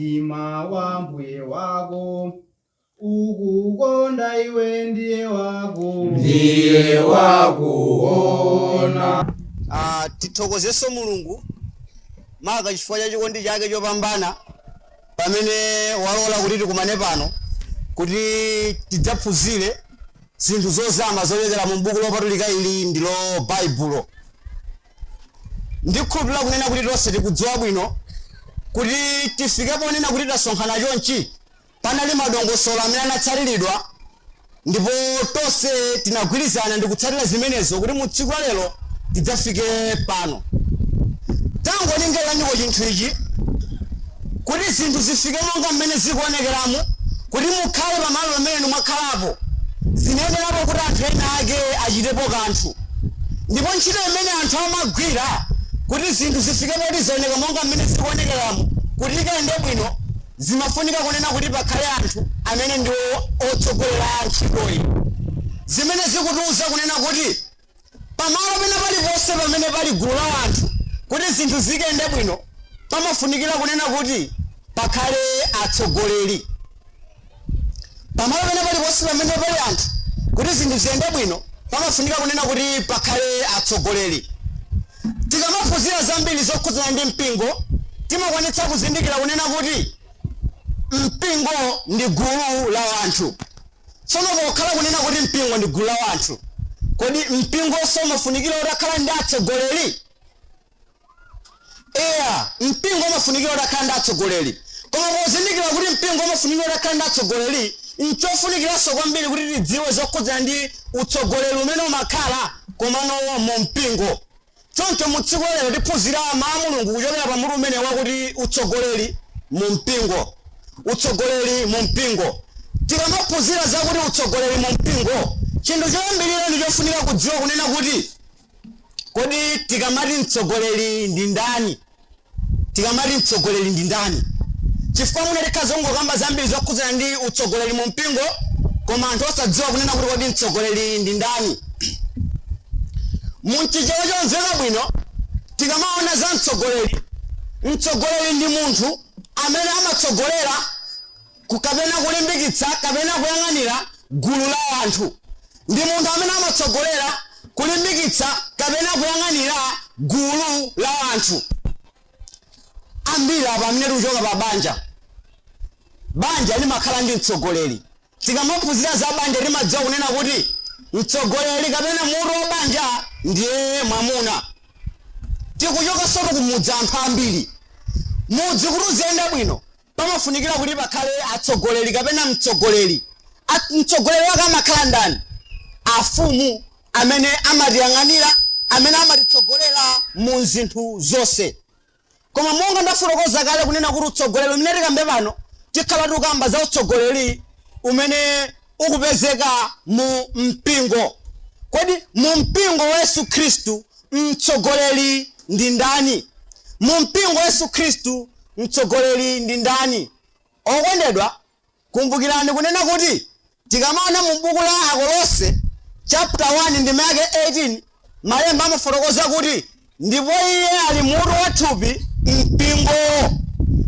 Mtima wa Mbuye wako. Ukukonda iwe ndiwe wako. Ndiye wakuona. Ah, tithokozenso mulungu maka chifukwa cha chikondi chake chopambana pamene walola kuti tikumane pano kuti tidzaphunzire zinthu zozama zochokera mu buku lopatulika ili ndilo baibulo Ndikhulupirira kunena kuti tonse tikudziwa bwino kuti tifike ponena kuti tasonkhana chonchi, panali madongosolo amene anatsatiridwa ndipo tonse tinagwirizana ndikutsatira zimenezo kuti mu tsiku la lero tidzafike pano. Tangolingaliraniko chinthu ichi, kuti zinthu zifike monga mmene zikuonekeramu, kuti mukhale pamalo pamene inu mwakhalapo, zinayenerapo kuti anthu ena ake achitepo kanthu. Ndipo ntchito imene anthu amagwira kuti zinthu zifike poti zaoneka monga mmene zikuonekeramu, kuti ikayende bwino, zimafunika kunena kuti pakhale anthu amene ndiwo otsogolera ntchitoyi, zimene zikutiuza kunena kuti pamalo pena paliponse pamene pali gulu la anthu, kuti zinthu zikende bwino pamafunikira kunena kuti pakhale atsogoleri. pamalo pena paliponse pamene pali anthu kuti zinthu ziyende bwino pamafunika kunena kuti pakhale atsogoleri tikamaphunzira zambiri zokhudzana ndi mpingo timakwanitsa kuzindikira kunena kuti mpingo ndi gulu la wanthu tsono pokhala kunena kuti mpingo ndi gulu la wanthu kodi mpingonso umafunikira utakhala ndi atsogoleri Eya, mpingo umafunikira utakhala ndi atsogoleri. Koma pozindikira kuti mpingo umafunikira utakhala ndi atsogoleri, n'chofunikiranso kwambiri kuti tidziwe zokhudzana ndi utsogoleri umene umakhala komano mu mpingo. Choncho mu tsiku la lero tiphunzira Mawu a Mulungu kuchokera pa mutu umenewu wakuti Utsogoleri mu Mpingo. Utsogoleri mu Mpingo. Tikamaphunzira zakuti utsogoleri mu mpingo, chinthu choyambirira ndi chofunika kudziwa kunena kuti Kodi tikamati mtsogoleri ndi ndani? Tikamati mtsogoleri ndi ndani? Chifukwa mwina tikhoza kungokamba zambiri zokhudzana ndi utsogoleri mu mpingo koma anthu osadziwa kunena kuti kodi mtsogoleri ndi ndani. Mu Chichewa chomveka bwino tikamaona za mtsogoleri, mtsogoleri ndi munthu amene amatsogolera ku kapena kulimbikitsa kapena kuyang'anira gulu la anthu ndi munthu amene amatsogolera, kulimbikitsa kapena kuyang'anira gulu la anthu. Ambiri apa amene tikuchoka pa banja, banja limakhala ndi mtsogoleri. Tikamaphunzira za banja timadziwa kunena kuti mtsogoleri kapena mutu wa banja ndiye mwamuna. Tikuchokanso kumudzi anthu ambiri mudzi kuti uziyenda bwino Pamafunikira kuti pakhale atsogoleri kapena mtsogoleri. A, mtsogoleri wake amakhala ndani? Afumu amene amatiyang'anira, amene amatitsogolera mu zinthu zonse. Koma monga ndafotokoza kale kunena kuti utsogoleri umene tikambe pano tikhala tikukamba za utsogoleri umene ukupezeka mu mpingo. Kodi mu mpingo wa Yesu Khristu mtsogoleri ndi ndani? Mu mpingo wa Yesu Khristu mtsogoleri ndi ndani? Okondedwa, kumbukirani kunena kuti tikamaona mu buku la Akolose chapter 1 ndime yake 18 Malemba amafotokoza kuti, Ndipo iye ali mutu wa thupi, mpingowo.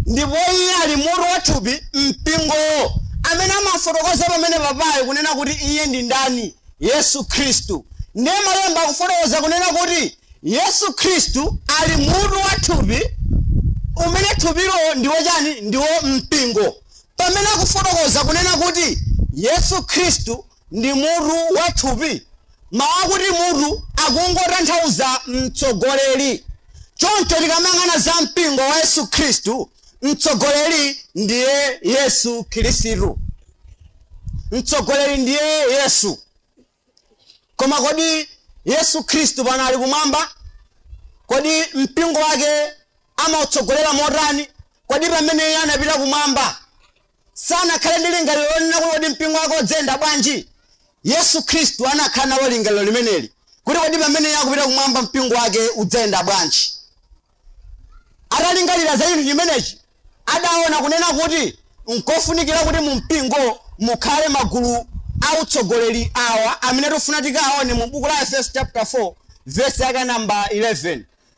Ndipo iye ali mutu wa thupi, mpingowo. Amene amafotokoza pamene papaja kunena kuti iye ndi ndani? Yesu Khristu. Ndiye malemba akufotokoza kunena kuti Yesu Khristu ali mutu wa thupi, umene thupilo ndiwo chani? Ndiwo mpingo. Pamene akufotokoza kunena kuti Yesu Khristu ndi mutu wa thupi. Mawu akuti mutu akungotanthauza mtsogoleri. Choncho tikamang'ana za mpingo wa Yesu Khristu, mtsogoleri ndiye Yesu Khristu. Mtsogoleri ndiye Yesu. Koma kodi Yesu Khristu pano ali kumwamba? Kodi mpingo wake amautsogolera motani? Kodi pamene iye anapita kumwamba sanakhale ndi lingaliro lonena kuti kodi mpingo wake udzayenda bwanji. Yesu Khristu anakhala nalo lingaliro limeneli kuti kodi pamene iye akupita kumwamba mpingo wake udzayenda bwanji. Atalingalira za chinthu chimenechi, adaona kunena kuti nkofunikira kuti mu mpingo mukhale magulu a utsogoleri awa amene tifuna tikaone mu buku la Efeso chapter 4 verse yake namba 11.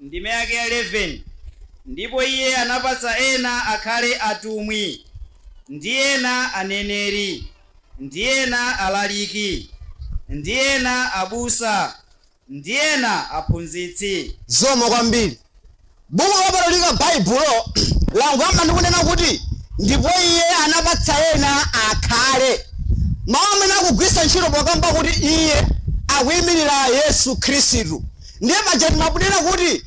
Ndime yake ya 11, Ndipo Iye anapatsa ena akhale atumwi, ndi ena aneneri, ndi ena alaliki, ndi ena abusa, ndi ena aphunzitsi. Zikomo kwambiri. Buku Lopatulika Baibulo langoyamba ndi kunena kuti, Ndipo Iye anapatsa ena akhale. Mau amene akugwiritsa ntchito pokamba kuti Iye akuimirira Yesu Khristu. Ndiye paja timanena kuti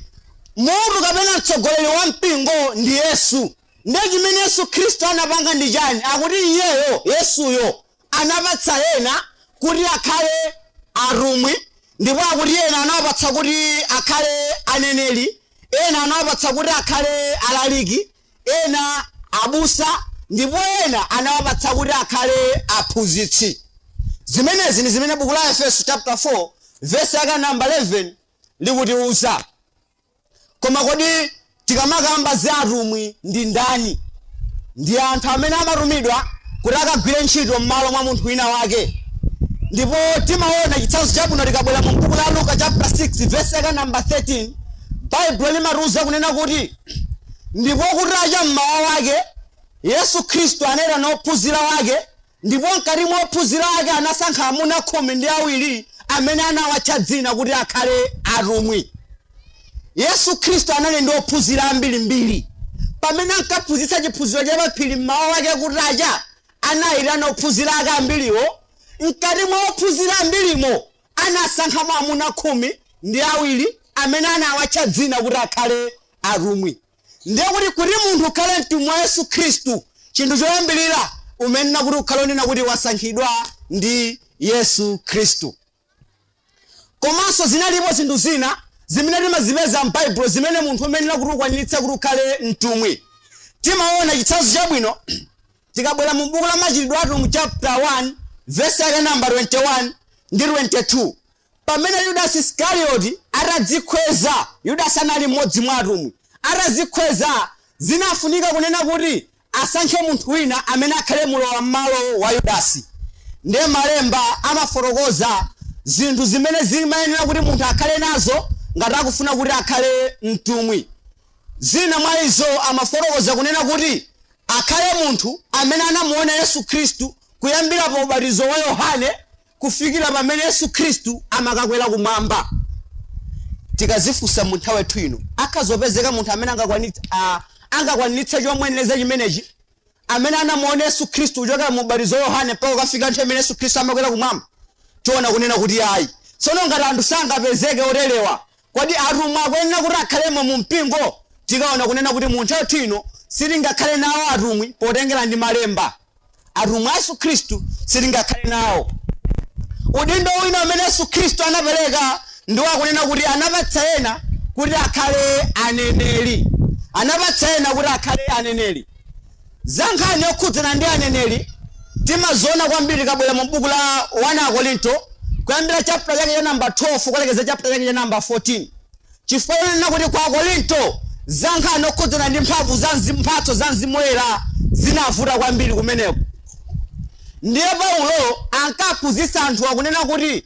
mutu kapena mtsogoleri wa mpingo ndi Yesu. Ndiye chimene Yesu Khristu anapanga ndi chani? Akuti iyeyo, Yesuyo, anapatsa ena kuti akhale atumwi, ndipo akuti ena anawapatsa kuti akhale aneneri, ena anawapatsa kuti akhale alaliki, ena abusa ndipo ena anawapatsa kuti akhale aphunzitsi zimenezi ndi zimene buku la aefeso chapter 4 vesi yake namba 11 likutiuza koma kodi tikamakamba za atumwi ndi ndani ndi anthu amene amatumidwa kuti akagwire ntchito m'malo mwa munthu wina wake ndipo timaona chitsanzo chabwino tikabwera mu buku la luka chapter 6 vesi yake namba 13 baibulo limatiuza kunena kuti Ndipo kutacha m'mawa wake, Yesu Khristu anaitana ophunzira wake, ndipo mkati mwa ophunzira wake anasankha amuna khumi ndi awiri amene anawatcha dzina kuti akhale atumwi. Yesu Khristu anali ndi ophunzira ambirimbiri. Pamene ankaphunzitsa chiphunziro cha paphiri m'mawa wake kutacha, anayitana ophunzira ake ambiriwo. Mkati mwa ophunzira ambirimo anasankhamo amuna khumi ndi awiri amene anawatcha dzina kuti akhale atumwi ndiye kuti kuti munthu ukhale mtumwi wa yesu khristu chinthu choyambirira umayenera kuti ukhale onena kuti wasankhidwa ndi yesu khristu komanso zinalipo zinthu zina zimene timazipeza m'baibulo zimene munthu umayenera kuti ukwaniritse kuti ukhale mtumwi timaona chitsanzo chabwino Tikabwera mu buku la Machitidwe a Atumwi chapter 1 verse yake namba 21 ndi 22 pamene Yudasi Iskarioti atadzikhweza, Yudasi anali mmodzi mwa atumwi, atadzikhweza zinafunika kunena kuti asankhe munthu wina amene akhale mulowa mmalo wa Yudasi. Ndiye malemba amafotokoza zinthu zimene zimayenera kuti munthu akhale nazo ngati akufuna kuti akhale mtumwi. Zina mwa izo amafotokoza kunena kuti akhale munthu amene anamuona Yesu Khristu kuyambira pa ubatizo wa Yohane kufikira pamene Yesu Khristu amakakwera kumwamba. Tikazifunsa mu nthawi yathu ino, akhoza kupezeka munthu amene angakwanit- ah, angakwaniritse chomuyenereza chimenechi amene anamuona Yesu Khristu kuchokera mu ubatizo wa Yohane mpaka kukafika nthawi imene Yesu Khristu amakwera kumwamba? Tiona kunena kuti ayi. Tsono ngati anthu sangapezeke oterewa, Kodi atumwi akuyenera kuti akhalemo mu mpingo? Tikaona kunena kuti mu nthawi yathu ino sitingakhale nawo atumwi potengera ndi malemba. Atumwi a Yesu Khristu sitingakhale nawo. Udindo wina umene Yesu Khristu anapereka ndi wakunena kuti anapatsa ena kuti akhale aneneri. Anapatsa ena kuti akhale aneneri. Za nkhani yokhudzana ndi aneneri timaziona kwambiri tikabwera mu buku la 1 Akorinto kuyambira chapter chake cha number 12 kulekezera chapter chake cha number 14. Chifukwa kunena kuti kwa Akorinto za nkhani yokhudzana ndi mphamvu za mzimu, mphatso za mzimu woyera zinavuta kwambiri kumeneko. Ndiye Paulo ankaphunzitsa anthu akunena kuti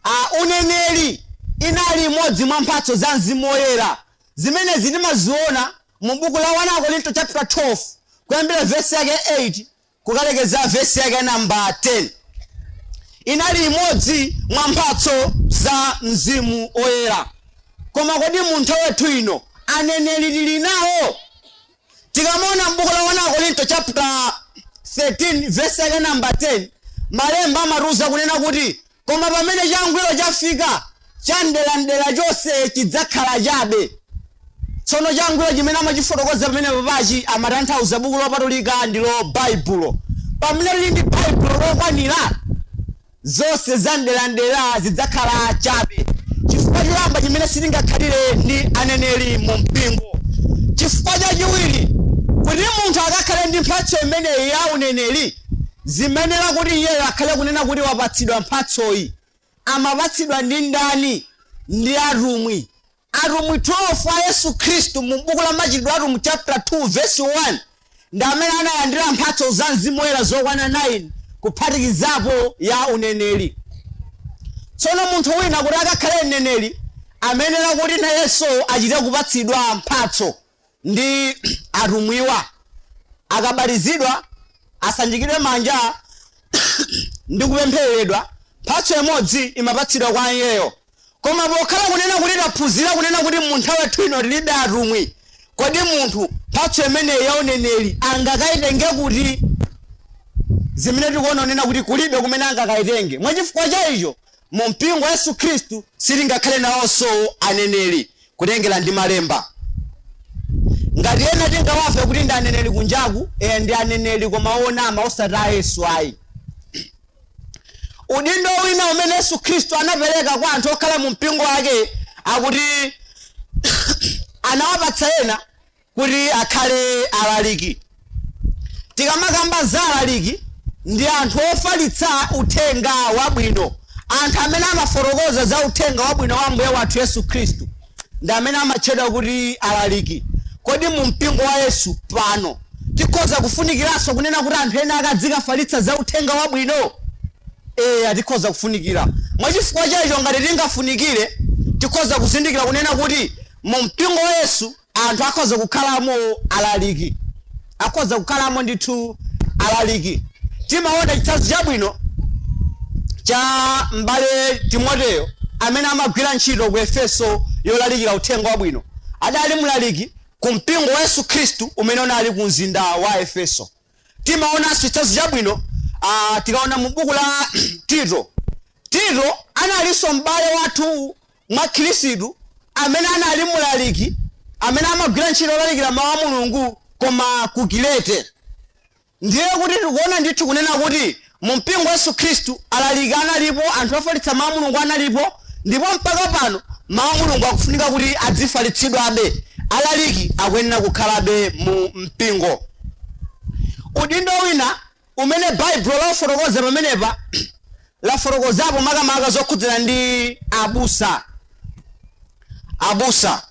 uh, uneneri inali imodzi mwa mphatso za mzimu woyera zimene timaziona Mu buku la 1 Akorinto chapter 12 kuyambira vesi yake 8 kukalekeza vesi yake namba 10 inali imodzi mwa mphatso za mzimu oyera koma kodi mu nthawi yathu ino aneneri tili nawo tikamaona mbuku la 1 akorinto chapter 13 vesi yake namba 10 malemba amatiuza kunena kuti Koma pamene changwiro chafika, chamderamdera chonse chidzakhala chabe. Tsono changwiro chimene amachifotokoza pamene papachi amatanthauza buku lopatulika ndilo Baibulo. Pamene tili ndi Baibulo lokwanira, zonse zamderamdera zidzakhala chabe. Chifukwa choyamba chimene sitingakhalire ndi aneneri mu mpingo. Chifukwa chachiwiri, kuti munthu akakhale ndi mphatso imeneyi ya uneneri, Zimayenera kuti iyeyo akhale kunena kuti wapatsidwa mphatsoyi. Amapatsidwa ndi ndani? Ndi atumwi. Atumwi 12 a Yesu Khristu mu buku la Machitidwe a Atumwi chapter 2 verse 1 ndi amene analandira mphatso za Mzimu Woyera zokwana 9 kuphatikizapo ya uneneri. Tsono munthu wina kuti akakhale mneneri amayenera kuti nayenso achite kupatsidwa mphatso. ndi atumwiwa akabatizidwa asanjikidwe manja ndi kupemphereredwa mphatso imodzi imapatsidwa kwa iyeyo koma pokhala kunena kuti taphunzira kunena kuti mu nthawi yathu ino tilibe atumwi kodi munthu mphatso imeneyi ya uneneri angakayitenge kuti zimene tikuona kunena kuti kulibe kumene angakayitenge mwachifukwa cha icho mu mpingo wa yesu khristu sitingakhale nawonso aneneri Kutengera ndi malemba ngati ena tingawamve kuti ndi aneneri kunjaku eya ndi aneneri koma onama osati a yesu ayi udindo wina umene yesu khristu anapereka kwa anthu okhala mu mpingo wake akuti anawapatsa ena kuti akhale alaliki. Tikamakamba za alaliki, ndi anthu ofalitsa uthenga wabwino. Anthu amene amafotokoza za uthenga wabwino wa Ambuye wathu Yesu Khristu ndi amene amatchedwa kuti alaliki. Kodi mu mpingo wa Yesu pano tikhoza kufunikiranso kunena kuti anthu ena akazikafalitsa za uthenga wabwino? Eya, tikhoza kufunikira. Mwa chifukwa chaicho ngati tingafunikire, tikhoza kuzindikira kunena kuti mu mpingo wa Yesu Anthu akhoza kukhalamo alaliki, akhoza kukhalamo ndithu alaliki. Timaona chitsanzo chabwino cha m'bale Timoteyo amene amagwira ntchito ku Efeso yolalikira uthenga wabwino. Adali mlaliki ku mpingo wa Yesu Khristu umene unali ku mzinda wa Efeso. Timaonanso chitsanzo chabwino ah, tikaona mu buku la Tito. Tito analinso m'bale wathu mwa Khristu, amene anali mlaliki amene amagwira ntchito yolalikira mawu a Mulungu koma ku Kirete. Ndiye kuti tikuona ndithu kunena kuti mu mpingo wa Yesu Khristu alaliki analipo, anthu ofalitsa mawu a Mulungu analipo, ndipo mpaka pano mawu a Mulungu akufunika kuti adzifalitsidwabe. Alaliki akuyenera kukhalabe mu mpingo. Udindo wina umene Baibulo lafotokoza pamenepa, lafotokozapo makamaka zokhudzana ndi abusa. Abusa,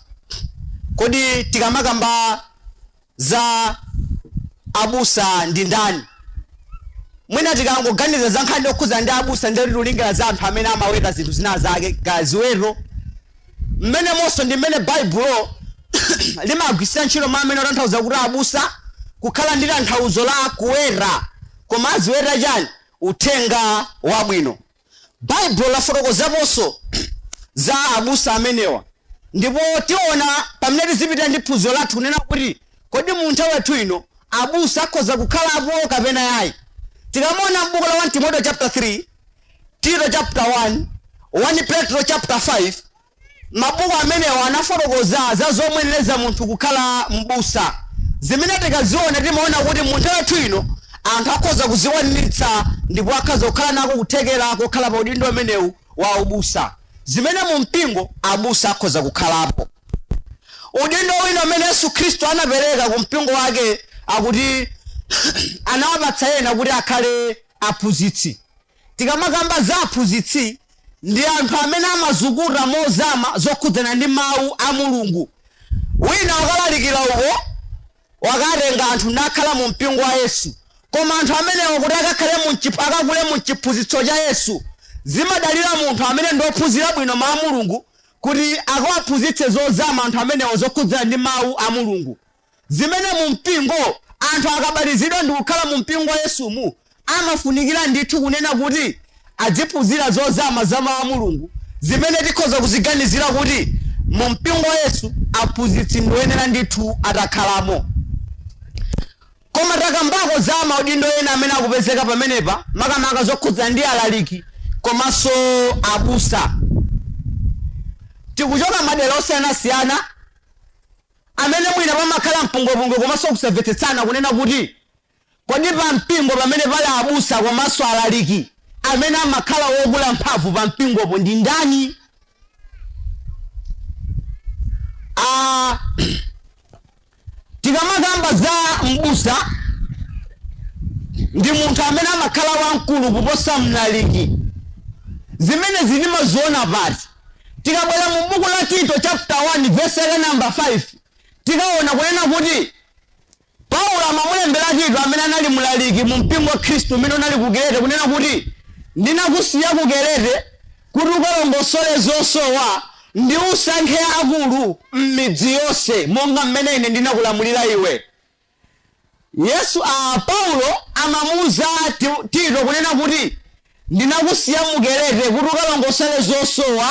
kodi tikamakamba za abusa ndi ndani? Mwina tikangoganiza za nkhani yokhudzana ndi abusa ndiye tilingalira za anthu amene amaweta zinthu zina zake, kaya ziweto, Mmenemonso ndi mmene Baibulo limagwiritsira ntchito mawu amene otanthauza kuti abusa kukhala ndi tanthauzo la kuweta, koma aziweta chani? Uthenga Wabwino. Baibulo lafotokozaponso za abusa amenewa ndipo tiona pamene tizipitirira ndi phunziro lathu kunena kuti kodi mu nthawi yathu ino abusa akhoza kukhalapo kapena ayi. Tikamaona m'buku la 1 Timoteyo chapter 3 Tito chapter 1, 1 Petro chapter 5, mabuku amenewa anafotokoza za zomuyenereza munthu kukhala m'busa, zimene tikaziona timaona kuti mu nthawi yathu ino anthu akhoza kuzikwaniritsa ndipo akhoza kukhala nako kuthekera kokhala pa udindo umenewu wa ubusa, zimene mu mpingo abusa akhoza kukhalapo. Udindo wina umene Yesu Khristu anapereka ku mpingo wake akuti anawapatsa ena kuti akhale aphunzitsi. Tikamakamba za aphunzitsi ndi anthu amene amazukuta mozama zokhudzana ndi mawu a Mulungu. Wina wakalalikira uko, wakatenga anthu nakhala mu mpingo wa Yesu, koma anthu amenewo kuti akakhale mu akakule mu chiphunzitso cha Yesu zimadalira munthu amene ndi ophunzira bwino mawu a Mulungu kuti akawaphunzitse zozama anthu amenewo zokhudzana ndi mawu a Mulungu. zimene mu mpingo anthu akabatizidwa ndi kukhala mu mpingo wa Yesumu amafunikira ndithu kunena kuti adziphunzira zozama za mawu a Mulungu zimene tikhoza kuziganizira kuti mu mpingo wa Yesu aphunzitsi ndi oyenera ndithu atakhalamo koma takambako za maudindo ena amene akupezeka pamenepa makamaka zokhudzana ndi alaliki komanso abusa tikuchoka madera osiyanasiyana amene mwina pamakhala mpungwepungwe komanso kusavetsetsana kunena kuti kodi pa mpingo pamene pali abusa komanso alaliki amene amakhala wokula mphamvu pa mpingopo ndi ndani Ah, tikamakamba za mbusa ndi munthu amene amakhala wamkulu kuposa mlaliki zimene timaziona pati Tikabwera mu buku la Tito chapter 1 verse yake number 5 tikaona kunena kuti Paulo amamulembera Tito amene anali mlaliki mu mpingo wa Khristu umene unali ku Kerete kunena kuti ndinakusiya ku Kerete kuti ukalongosole zosowa ndi usankhe akulu m'midzi yonse monga mmene ine ndinakulamulira iwe. Yesu a, Paulo amamuuza Ti, Tito kunena kuti ndinakusiya mu Kerete kuti ukalongosole zosowa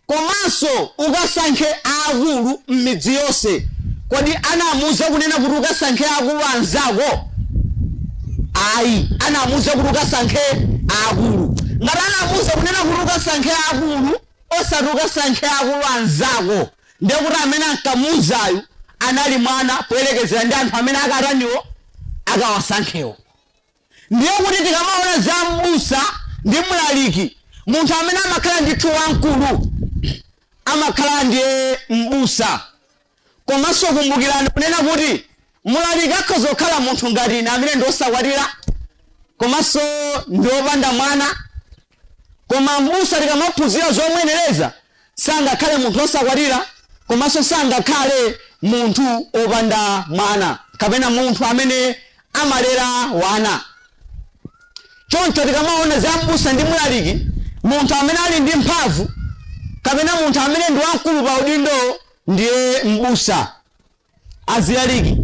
komanso ukasankhe akulu m'midzi yonse. Kodi anamuuza kunena kuti ukasankhe aakulu anzako? Ayi, anamuuza kuti ukasankhe akulu. Ngati anamuuza kunena kuti ukasankhe akulu osati ukasankhe akulu anzako, Ndiye kuti amene ankamuuzayu anali mwana poyerekezera ndi anthu amene akataniwo akawasankhewo. Ndiye kuti tikamaona za m'busa ndi mlaliki, munthu amene amakhala ndithu wamkulu amakhala ndiye m'busa. Komanso kumbukirani kunena kuti Mlaliki akhoza kukhala munthu ngati ine amene ndi osakwatira komanso ndi opanda mwana, koma m'busa tikamaphunzira zomuyenereza sangakhale munthu osakwatira komanso sangakhale munthu opanda mwana kapena munthu amene amalera wana. Choncho tikamaona za m'busa ndi mlaliki, munthu amene ali ndi mphamvu kapena munthu amene ndi wamkulu pa udindowo ndiye m'busa. azilaliki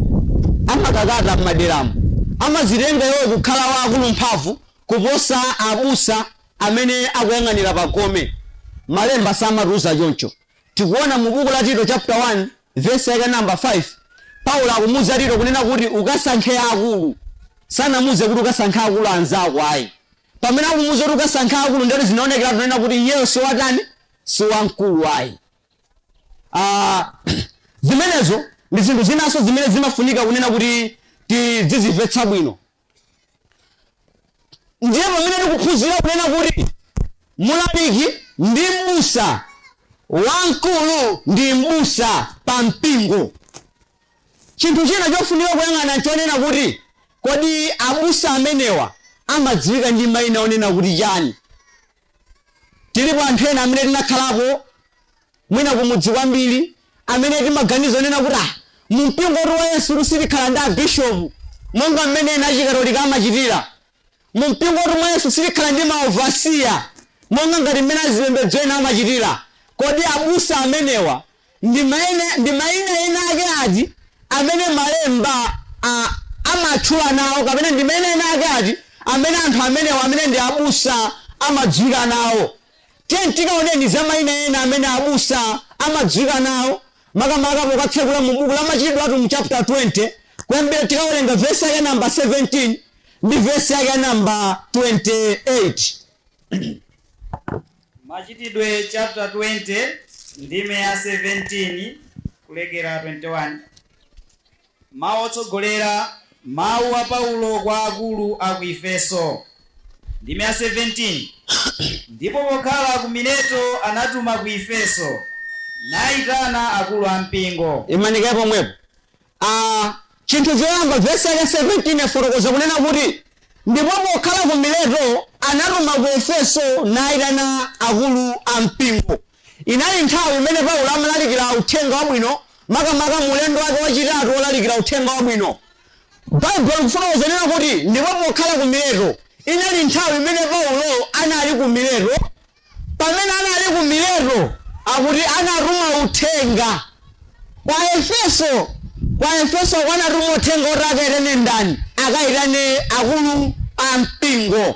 amakakhala m'maderamu amazitenga iwowo kukhala wokula mphamvu kuposa abusa amene akuyang'anira pa gome. Malemba samatiuza choncho. Tikuona mu buku la Tito chapter 1 verse yake number 5 Paulo akumuuza Tito kunena kuti ukasankhe akulu. Sanamuuze kuti ukasankhe akulu anzako ayi. Pamene akumuuza kuti ukasankhe akulu ndati zinaonekeratu kunena kuti iyeyo si watani? Si wamkulu ayi. Ah, zimenezo ndi zinthu zinanso zimene zimafunika kunena kuti tidzizimvetsa bwino ndiye pamene tikuphunzira kunena kuti mulaliki ndi mbusa wamkulu ndi mbusa pa mpingo chinthu china chofunika kuyang'ana chonena kuti kodi abusa amenewa amadziwika ndi mayina onena kuti chani Tilipo anthu ena amene tinakhalapo mwina kumudzi kwambiri amene timaganizo onena kuti ah, mumpingotu wa Yesutu sitikhala ndi abishopu monga mmene ena achikatolika amachitira. Mumpingotu mwa Yesu sitikhala ndi maovasiya monga ngati mmene azipembedzo ena amachitira. Kodi abusa amenewa Ndi maina ena ake ati amene Malemba amatchula nawo, kapena ndi maina ena ake ati amene anthu amenewa, amene ndi abusa, amadziwika nawo? Tiyeni tikaoneni za maina ena amene abusa amadziwika nawo, makamaka pokatsekula mu buku la Machitidwe a Atumwi chapter 20, kuyambira tikawerenga vesi yake ya namba 17 ndi vesi yake ya namba 28. Machitidwe chapter 20 ndime ya 17 kulekera 21 Mawu otsogolera, Mawu a Paulo kwa akulu a ku Efeso, ndime ya 17 Ndipo pokhala ku Mileto anatuma ku Efeso, nayitana akulu a mpingo. Imani kaye pomwepo. a Chinthu choyamba, vesi yake ya 17 yafotokoza kunena kuti, Ndipo pokhala ku Mileto, anatuma ku Efeso, naitana akulu a mpingo. Inali nthawi imene Paulo amalalikira uthenga wabwino, makamaka mu ulendo wake wachitatu wolalikira uthenga wabwino. Baibulo likufotokoza kunena kuti, Ndipo pokhala ku Mileto. Inali nthawi imene Paulo anali ku Mileto. Pamene anali ku Mileto, akuti anatuma uthenga kwa Efeso, kwa Efeso anatuma uthenga oti akaitane ndani? Akaitane akulu a mpingo.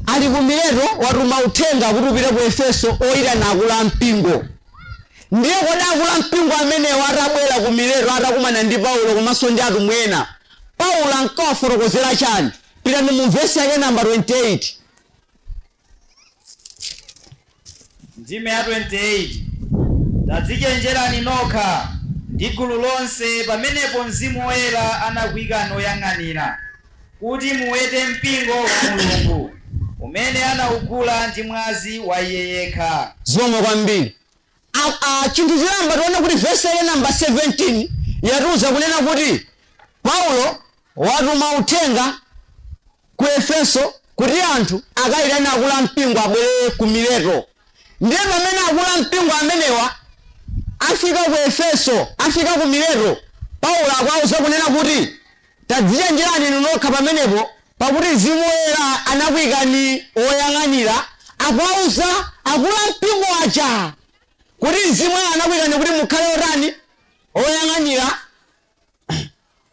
Ali ku Mileto, watuma uthenga kuti upite ku Efeso oitana akulu a mpingo. Ndiye kodi akulu a mpingo amenewa atabwera ku Mileto, atakumana ndi Paulo komanso ndi atumwi ena, Paulo ankawafotokozera chani? Pitani mu vesi yake namba 28. ndime ya 28 tadzichenjerani nokha ndi gulu lonse pamenepo mzimu woyera anakuikani oyang'anira kuti muwete mpingo wa mulungu umene anaugula ndi mwazi wa iye yekha zikomo kwambiri a A chinthu choyamba tione kuti vesi yake namba 17 yatiuza kunena kuti Paulo watuma uthenga ku Efeso kuti anthu akayitane akulu a mpingo abwere ku Mileto. Ndiye pamene akulu a mpingo amenewa afika ku Efeso, afika ku Mileto, Paulo akuwauza kunena kuti Tadzichenjerani inu nokha pamenepo, pakuti Mzimu Woyera anakuikani oyang'anira, akuwauza akulu a mpingo aja kuti Mzimu Woyera anakuikani kuti mukhale otani? Oyang'anira.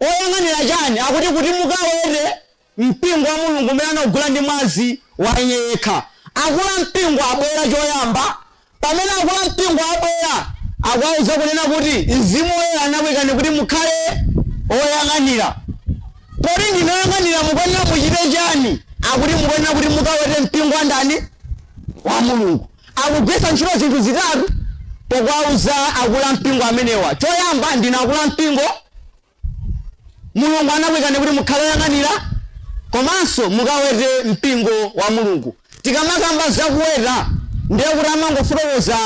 Oyang'anira chani? Akuti kuti mukawete mpingo wa Mulungu umene anaugula ndi mwazi wa iye yekha. Akulu a mpingo abwera choyamba, Pamene akulu a mpingo abwera, akuwauza kunena kuti Mzimu Woyera anakuikani kuti mukhale oyang'anira. Poti ndinu oyang'anira mukuyenera muchite chani? Akuti mukuyenera kuti mukawete mpingo wa ndani? Wa Mulungu. Akugwiritsa ntchito zinthu zitatu pokuwauza akulu a mpingo amenewa. Choyamba, ndinu akulu a mpingo. Mulungu anakuikani kuti mukhale oyang'anira komanso mukawete mpingo wa Mulungu. Tikamakamba za kuweta ndiye kuti amangofotokoza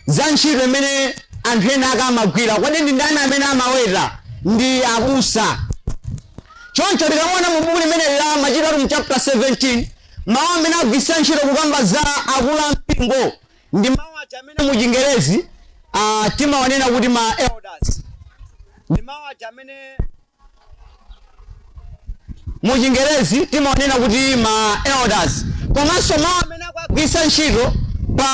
za ntchito imene anthu ena ake amagwira. Kodi ndi ndani amene amaweta? Ndi abusa. Choncho tikamaona mu buku limeneli la Machitidwe a Atumwi chapter 17 mawu amene agwiritsa ntchito kukamba za akulu a mpingo Ndi mawu aja amene mu chingerezi a timawanena kuti ma elders. Ndi mawu aja amene mu chingerezi timawanena kuti ma elders. Komanso mawu amene akuwagwiritsa ntchito pa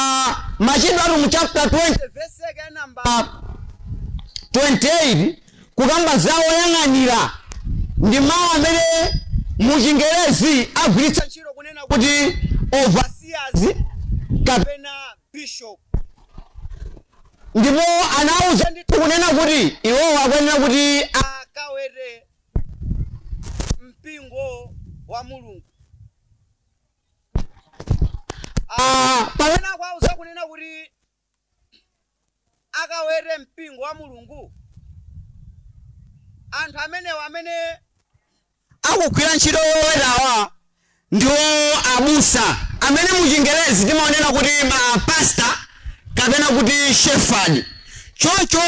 Machitidwe a Atumwi chapter 20 verse yake ya namba 28 kukamba za oyang'anira ndi mawu amene mu Chingerezi agwiritsa ntchito kunena kuti overseers kapena bishop. Ndipo anawuza ndithu kunena kuti iwowo akuyenera kuti akawete mpingo wa Mulungu. Ah, pamene akuwauza kunena kuti akawete mpingo wa Mulungu? Anthu amenewa amene akugwira ntchito yowetawa ndiwo abusa amene mu chingerezi timawanena kuti ma pastor kapena kuti shepherd. Choncho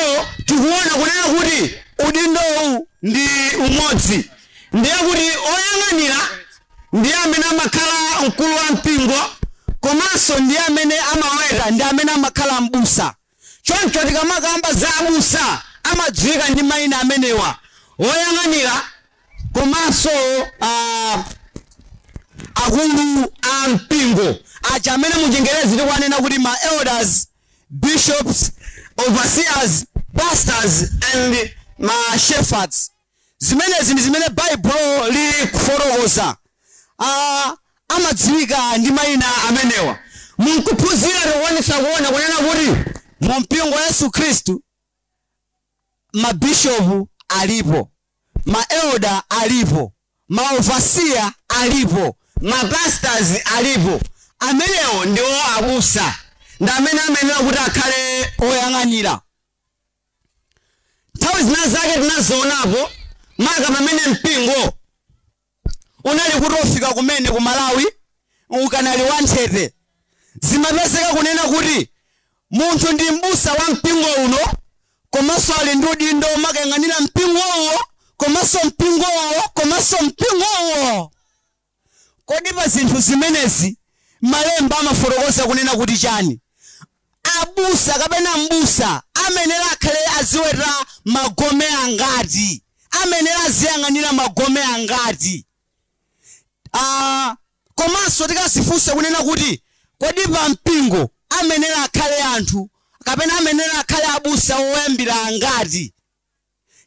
tikuona kunena kuti udindowu ndi umodzi. ndiye kuti oyang'anira ndiye amene amakhala mkulu wa mpingo komanso ndiye amene amaweta ndi amene amakhala m'busa choncho tikamakamba za abusa amadziwika ndi mayina amenewa oyang'anira komanso ah, akulu a mpingo aja amene mu chingerezi tikuwanena kuti ma elders bishops overseers pastors and ma shepherds Zimenezi ndi zimene Baibulo liri kufotokoza. Amadziwika ndi maina amenewa mukuphunzira tikukwanitsa kuona kunena kuti mu mpingo wa Yesu Khristu ma bishopu alipo, ma elder alipo, ma overseer alipo, ma pastors alipo. Amenewo ndiwo abusa ndi amene amayenera kuti akhale oyang'anira. nthawi zina zake tinazionapo maka pamene mpingo unali kutofika kumene ku Malawi ukanali wanthete zimapezeka kunena kuti munthu ndi m'busa wa mpingo uno komanso ali ndi udindo omakayang'anira mpingo uwo komanso mpingo uwo komanso mpingo uwo Kodi pa zinthu zimenezi malemba amafotokoza kunena kuti chani? Abusa kapena m'busa amayenera akhale aziweta magome angati? Amayenera aziyang'anira magome angati? Komanso tikazifunsa kunena kuti kodi pa mpingo amayenera akhale anthu kapena amayenera akhale abusa oyambira angati?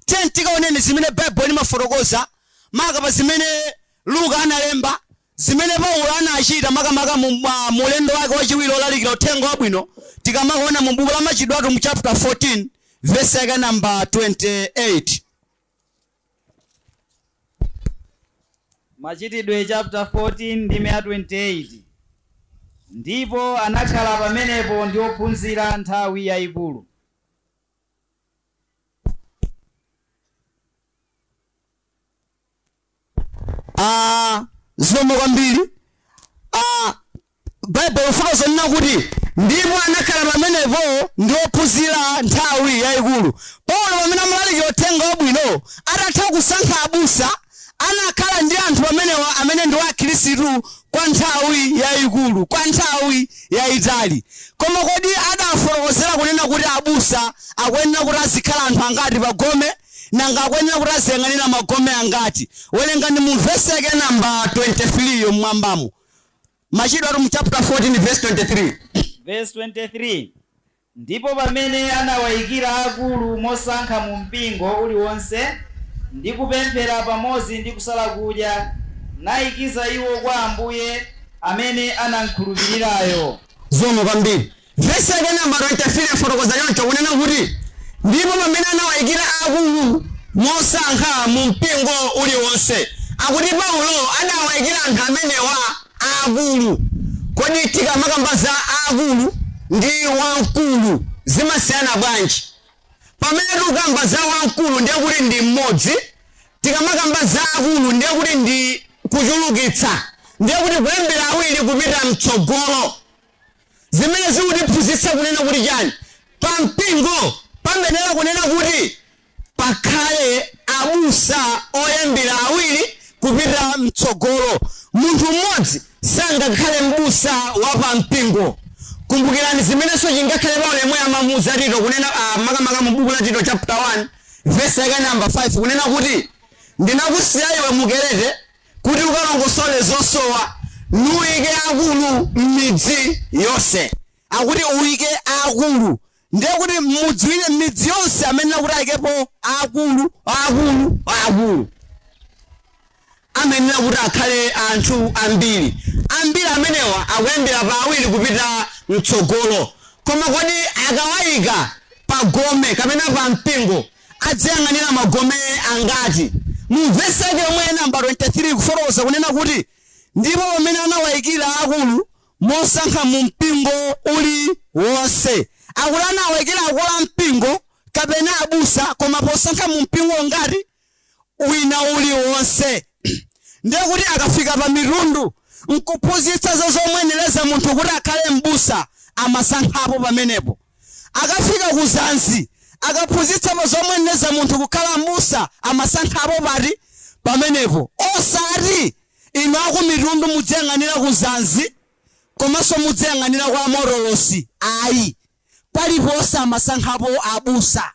Tiyeni tikaoneni zimene Baibulo limafotokoza maka pa zimene Luka analemba, zimene Paulo anachita makamaka mu ulendo wake wachiwiri olalikira uthenga wabwino tikamaona mu buku la Machitidwe a Atumwi chapter 14 verse yake namba 28. Machitidwe chapter 14 ndime ya 28 ndipo anakhala pamenepo ndi ophunzira nthawi yayikulu. Ah, zikomo kwambiri Ah, baibulo lafotokoza kunena kuti ndipo anakhala pamenepo ndi ophunzira nthawi yayikulu Paulo pamene amalalikira uthenga wabwino atatha kusankha abusa anakhala ndi anthu amenewa amene ndiwo Akhristu kwa nthawi yayikulu, kwa nthawi yayitali. Koma kodi adafotokozera kunena kuti abusa akuyenera kuti azikhala anthu angati pa gome? Nanga akuyenera kuti aziyang'anira magome angati? Werengani mu vesi yake ya namba 23 yo m'mwambamo. Machitidwe a Atumwi chapter 14 verse 23. Verse 23. Ndipo pamene anawaikira akulu mosankha mu mpingo uli wonse, ndi kupemphera pamodzi ndi kusala kudya, naikiza iwo kwa Ambuye amene anamkhulupirirayo. Zikomo kwambiri. Vesi lake namba 23 lafotokoza choncho, kunena kuti, Ndipo pamene anawaikira akulu mosankha mu mpingo uli wonse. Akuti Paulo adawaikira anthu amenewa. aakulu. Kodi tikamakamba za aakulu ndi wamkulu zimasiyana bwanji? Pamene tikukamba za wamkulu ndiye kuti ndi mmodzi, tikamakamba za aakulu ndiye kuti ndi kuchulukitsa, ndiye kuti kuyambira awiri kupita mtsogolo. Zimene zikutiphunzitsa kunena kuti chani? Pampingo pamayenera kunena kuti Pakhale abusa kuyambira awiri kupita m'tsogolo. Munthu mmodzi sangakhale mbusa wa pa mpingo. Kumbukirani zimenenso chingakhale Paulo yemwe amamuuza Tito kunena ah, makamaka mu buku la Tito chapter 1 verse yake namba 5 kunena kuti ndinakusiya iwe mu Kerete kuti ukalongosole zosowa nuike akulu m'midzi yonse. Akuti uike akulu Ndiye kuti m'mudzi uli, m'midzi yonse amayenera kuti aikepo aakulu, aakulu, aakulu. Amayenera kuti akhale anthu ambiri. Ambiri amenewa akuyambira pa awiri kupita m'tsogolo. Koma kodi akawaika pa gome kapena pa mpingo adziyang'anira magome angati? Mu vesi yake yomwe namba 23 ikufotokoza kunena kuti, Ndipo pamene anawaikira aakulu, mosankha mu mpingo uli wonse. Akuti anawaikira akulu a mpingo kapena abusa koma posankha mu mpingo ngati wina uli wonse. Ndiye kuti akafika pa Mitundu nkuphunzitsa za zomuyenereza munthu kuti akhale m'busa amasankhapo pamenepo. Akafika ku Zanzi akaphunzitsa pa zomuyenereza munthu kukhala m'busa amasankhapo pati? Pamenepo. Osati Inu aku Mitundu mudziyang'anira ku Zanzi komanso mudziyang'anira kwa Morolosi ayi paliponse amasankhapo abusa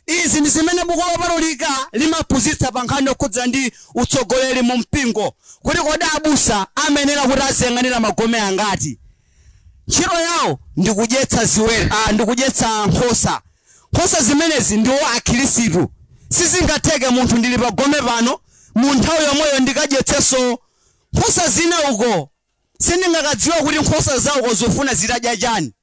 izi ndi zimene buku lopatulika limaphunzitsa pa nkhani yokhudza ndi utsogoleri mu mpingo kuti kodi abusa amayenera kuti aziyang'anira magome angati Ntchito yawo ndi kudyetsa ziweto, a, ndi kudyetsa nkhosa. Nkhosa zimenezi ndiwo Akhirisitu. Sizingatheke munthu ndili pa gome pano, mu nthawi yomweyo ndikadyetsenso nkhosa zina uko. Sindingakadziwa kuti nkhosa za uko zofuna zitadya chani.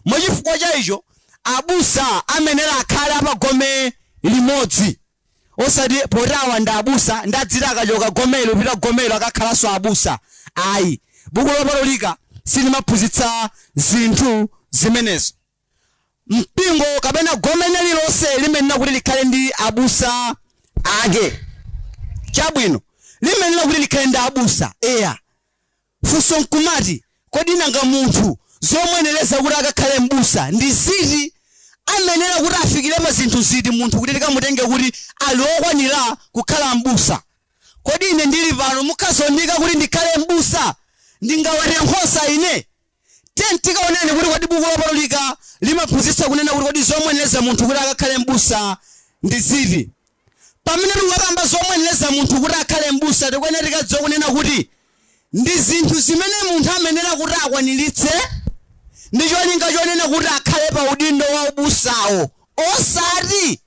Mwa chifukwa cha icho, abusa amayenera akhale a pa gome limodzi. osati poti awa ndi abusa ndi adziti akachoka gomelo pita gomelo akakhalanso abusa ayi buku lopatulika silimaphunzitsa zinthu zimenezo mpingo kapena gome lililonse limayenera kuti likhale ndi abusa ake chabwino limayenera kuti likhale ndi abusa eya Funso nkumati, kodi nanga munthu zomuyenereza kuti akakhale m'busa ndi ziti? Amayenera kuti afikire pa zinthu ziti munthu kuti tikamutenge kuti ali okwanira kukhala m'busa? Kodi ine ndili pano mukhoza kundiika kuti ndikhale m'busa ndingawete nkhosa ine? Tiyeni tikaoneni kuti kodi buku lopatulika limaphunzitsa kunena kuti kodi zomuyenereza munthu kuti akakhale m'busa ndi ziti? Pamene tikukamba zomuyenereza munthu kuti akhale m'busa tikuyenera tikadziwe kunena kuti ndi zinthu zimene munthu amayenera kuti akwaniritse ndi cholinga chonena kuti akhale pa udindo wa ubusawo osati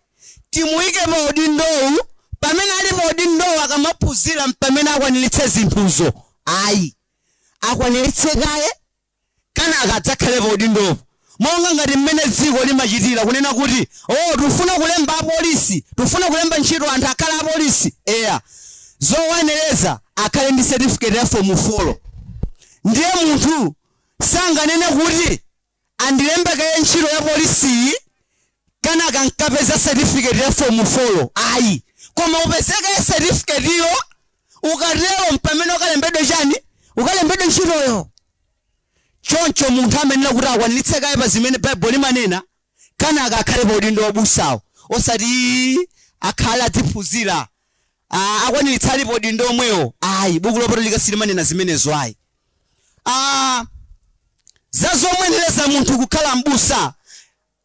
timuyike pa udindowu pamene ali pa udindowu akamaphunzira mpamene akwaniritse zinthuzo ayi akwaniritse kaye kanaka adzakhale pa udindopo monga ngati mmene dziko limachitira kunena kuti oh tufuna kulemba apolisi tufuna kulemba ntchito anthu akhale apolisi eya zowayenereza akhale ndi certificate ya form 4 ndiye munthu sanganene kuti andilembe kaye ntchito ya polisiyi kanaka ndikapeza certificate ya form 4 ayi koma upeze kaye certificate iyo ukatero mpamene ukalembedwe chani ukalembedwe ntchitoyo choncho munthu amayenera kuti akwaniritse kaye pa zimene baibulo limanena kanaka akhale pa udindo wa ubusawo osati "Ii, akhale adziphunzira Ah, akwaniritsa ali pa udindo omwewo ayi buku lopatulika silimanena zimenezo ayi Ah, za zomuyenereza munthu kukhala mbusa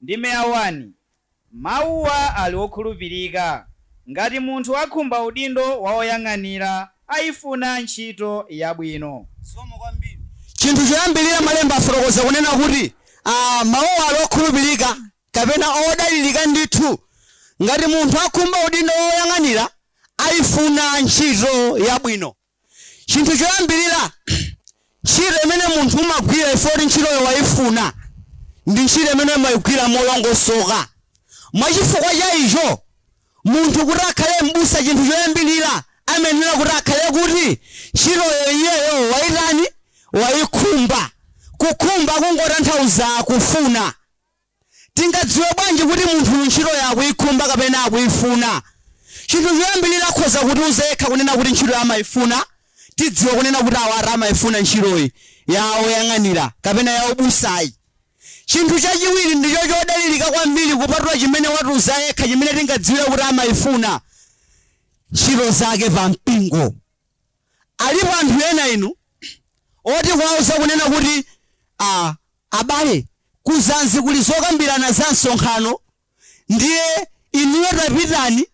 Ndime ya 1, Mawuwa ali okhulupirika. Ngati munthu akhumba udindo wa woyang'anira, aifuna ntchito yabwino. Zikomo kwambiri. Chinthu choyambirira, Malemba afotokoza kunena kuti a, mawuwa ali okhulupirika, kapena odalirika ndithu. Ngati munthu akhumba udindo wa woyang'anira, aifuna ntchito yabwino. Chinthu choyambirira, ntchito imene munthu umagwira chifukwa choti ntchitoyo waifuna, ndi ntchito imene umaigwira molongosoka. Mwa chifukwa cha icho, munthu kuti akhale m'busa chinthu choyambirira amayenera kuti akhale kuti ntchitoyo iyeyo waitani? Waikhumba. Kukhumba kungotanthauza kufuna. Tingadziwe bwanji kuti munthuyu ntchitoyo akuikhumba kapena akuifuna? Chinthu choyambirira akhoza kutiuza yekha kunena kuti ntchitoyo amaifuna. Tidziwa kunena kuti awatu amaifuna ntchitoyi ya woyang'anira kapena ya ubusayi. Chinthu chachiwiri ndicho chodalirika kwambiri kupatula chimene watiuza yekha chimene tingadziwire kuti amaifuna, ntchito zake pampingo. Alipo anthu ena inu oti kuwauza kunena kuti aah abale ku Zanzi kuli zokambirana za msonkhano ndiye inuyo tapitani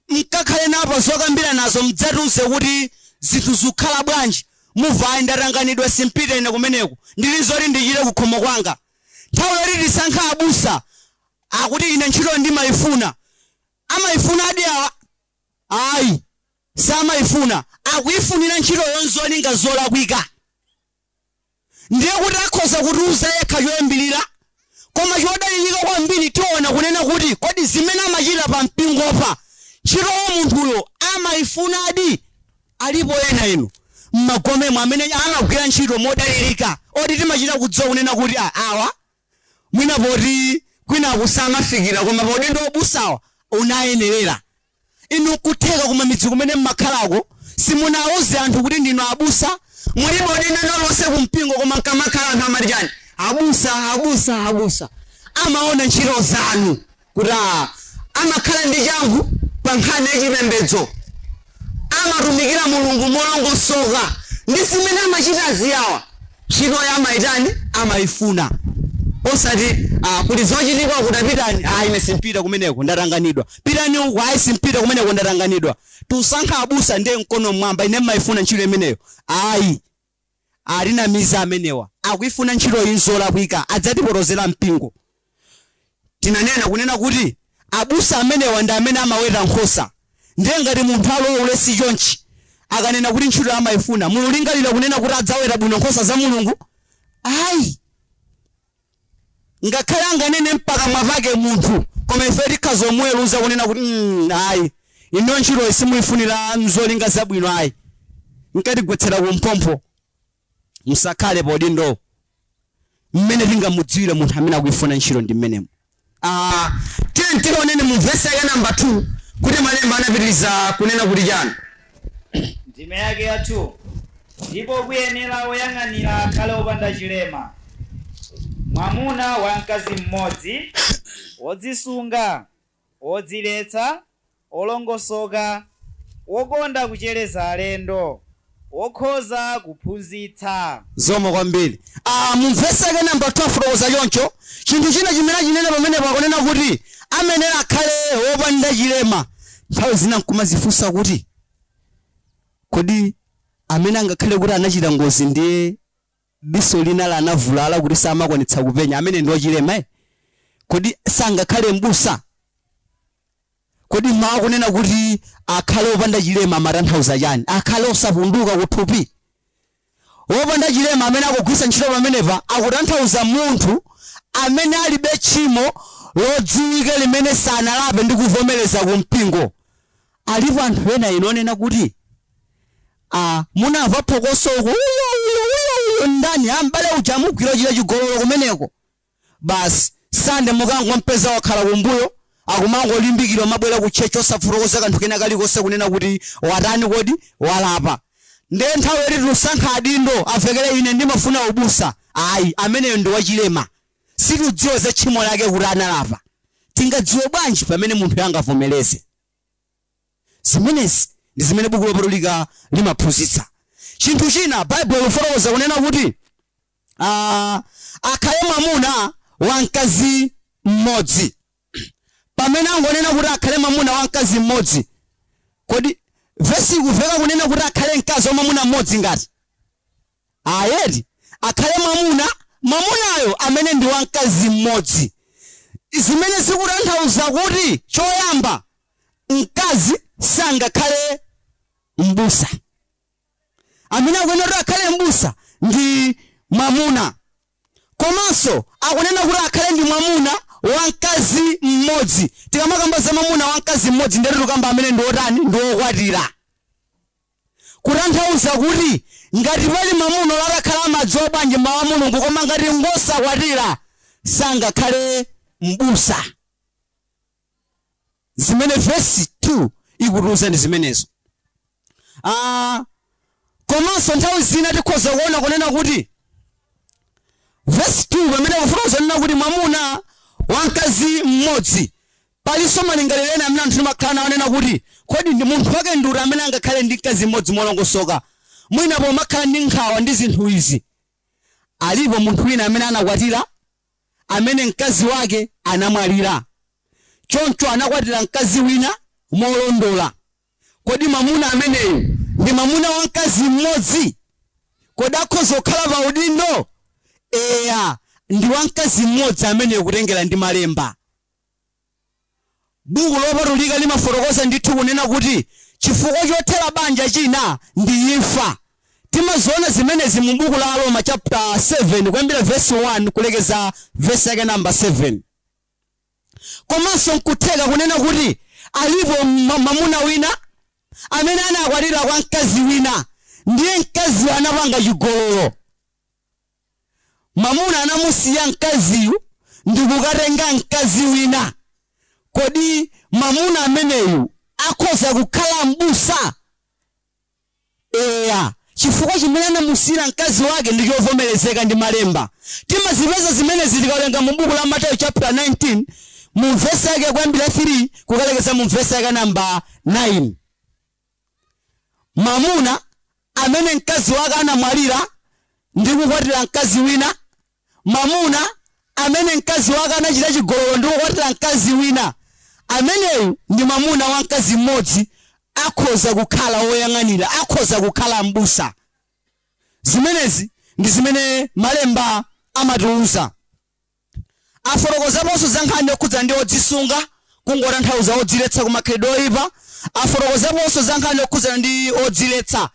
mkakhale nawo pa zokambiranazo mdzatiuze kuti zinthu zikukhala bwanji. Muva ayi ndatanganidwa simpita ine kumeneko ndili nzoti ndichite ku khomo kwanga. Nthawi yoti tisankhe abusa akuti ine ntchitoyo ndimaifuna. Amaifunadi awa? Ayi. samaifuna, akuifunira ntchitoyo nzolinga zolakwika, ndiye kuti akhoza kutiuza yekha choyambirira. Koma chodalirika kwambiri tiona kunena kuti kodi zimene amachita pa mpingopa ntchitoyo munthuyo amaifunadi? Alipo ena inu m'magomemo amene amagwira ntchito modalirika oti timachita kudziwa kunena kuti a awa mwina poti kwinaku samafikira koma pa udindo waubusa awa unayenerera. Inu nkutheka kumamidzi kumene mmakhalako simunauze anthu kuti ndinu abusa mulibe udindo wina uliwonse kumpingo koma nkamakhala anthu amati chani abusa abusa abusa amaona ntchito zanu kuti "Ah, amakhala ndi changu pa nkhani ya chipembedzo amatumikira mulungu molongosoka ndi zimene amachitazi awa Ntchitoyi amaitani? Amaifuna. Osati, Ah, kuli zochitika uku, tapitani. Ah, ine simpita kumeneko, ndatanganidwa. Pitani uku. Ayi, simpita kumeneko, ndatanganidwa. Tusankha abusa ndiye mkono mmwamba, ine mmaifuna ntchito imeneyo. Ayi. Atinamiza amenewa. Akuifuna ntchitoyi nzolakwika. Adzatipotozera mpingo. tinanena kunena kuti abusa amenewa ndi amene amaweta nkhosa ndiye ngati munthu ali waulesi chonchi akanena kuti ntchito amaifuna mululingalira kunena kuti adzaweta bwino nkhosa za mulungu ayi ngakhale anganene mpakamwa pake munthu koma ife tikhoza kumuweruza kunena kuti "Mm, ayi inu ntchitoyi simuifunira nzolinga zabwino ayi nkatigwetsera kumphompho musakhale paudindo mmene tingamudziwire munthu amene akuifuna ntchito ndi mmenemo Ah, tiyeni tiwoneni mu vesi yake namba 2 kuti malemba anapitiriza kunena kuti chani ndime yake ya 2 ndipo kuyenera woyang'anira akhale wopanda chilema mwamuna wa mkazi mmodzi wodzisunga wodziletsa, wolongosoka, wokonda kuchereza alendo, wokhoza kuphunzitsa. Zikomo kwambiri. Aaa mu vesi yake number 2 afotokoza choncho, chinthu china chimene achinena pamenepo akunena kuti amayenera akhale wopanda chilema, nthawi zina nkumazifunsa kuti kodi amene angakhale kuti anachita ngozi ndiye. diso lina lanavulala kuti samakwanitsa kupenya, amene ndi wachilema? Kodi sangakhale m'busa? Kodi mawu onena kuti akhale opanda chilema amatanthauza chani? Akhale osapunduka kuthupi? Wopanda chilema amene akugwiritsa ntchito pamenepa akutanthauza munthu amene alibe tchimo lodziwika limene sanalape ndi kuvomereza ku mpingo. Alipo anthu ena inu onena kuti a. Munava phokoso uko, uyo ndani, a m'bale uja amugwira akuchita chigololo kumeneko. Basi, Sande mukangompeza wakhala kumbuyo, akumangolimbikira kumabwera ku church osafotokoza kanthu kena kalikonse kunena kuti watani kodi, walapa. Ndiye nthawi yoti tisankha adindo, amvekere ine ndimafuna ubusa. Ayi, ameneyo ndi wachilema. Sitidziwa za tchimo lake kuti analapa. Tingadziwe bwanji pamene munthu angavomereze? zimenezi ndi zimene buku lopatulika limaphunzitsa chinthu china baibulo lifotokoza kunena kuti ah, akhale mwamuna wa mkazi mmodzi pamene angonena kuti akhale mwamuna wa mkazi mmodzi kodi vesi ikumveka kunena kuti akhale mkazi wa mwamuna mmodzi ngati Ayi eti akhale mwamuna mwamunayo amene ndi wa mkazi mmodzi, zimene zikutanthauza kuti choyamba mkazi sangakhale m'busa. Amene akuyenera kuti akhale m'busa ndi mwamuna. Komanso akunena kuti akhale ndi mwamuna wa mkazi mmodzi. Tikamakamba za mwamuna wa mkazi mmodzi ndiye tikukamba amene ndi wotani? Ndi wokwatira. Kutanthauza kuti ngati pali mwamuna olo atakhala amadziwa bwanji mau a Mulungu koma ngati ngosakwatira sangakhale m'busa. Zimene vesi 2 ikutiuza ndi zimenezo. A, komanso nthawi zina tikhoza kuona kunena kuti vesi 2 pamene ikufotokoza kunena kuti mwamuna wa mkazi m'modzi Palinso malingaliro ena amene anthu timakhala nawo onena kuti, Kodi ndi munthu wake ndi uti amene angakhale ndi mkazi mmodzi molongosoka, mwina pomakhala ndi nkhawa ndi zinthu izi, Alipo munthu wina amene anakwatira amene mkazi wake anamwalira, choncho anakwatira mkazi wina molondola? Kodi mwamuna ameneyu ndi mwamuna wa mkazi mmodzi? Kodi akhoza kukhala pa udindo? Eya, ndi wa mkazi mmodzi ameneyo kutengera ndi Malemba. Buku Lopatulika limafotokoza ndithu kunena kuti chifukwa chothera banja china ndi imfa. Timaziona zimenezi mu buku la Aroma chapter 7 kuyambira verse 1 kulekeza verse yake number 7. Komanso nkutheka kunena kuti alipo ma- mamuna wina amene anakwatira kwa mkazi wina ndiye mkaziyo anapanga chigololo. Mwamuna anamusiya mkaziyu ndikukatenga mkazi wina. Kodi mwamuna ameneyu akhoza kukhala m'busa? Eya, chifukwa chimene anamusiyira mkazi wake ndi chovomerezeka ndi Malemba. Timazipeza zimenezi tikawerenga mu buku la Mateyu chaputala 19 mu vesi yake kuyambira 3 kukalekeza mu vesi yake namba 9. Mwamuna amene mkazi wake anamwalira ndi kukwatira mkazi wina, mwamuna amene mkazi wake anachita chigololo ndi kukwatira mkazi wina, ameneyu ndi mwamuna wa mkazi mmodzi, akhoza kukhala woyang'anira, akhoza kukhala m'busa. Zimenezi ndi zimene Malemba amatiuza. Afotokozaponso za nkhani yokhudza ndi odzisunga, kungotanthauza odziletsa ku makhalidwe oipa. Afotokozaponso za nkhani yokhudzana ndi odziletsa,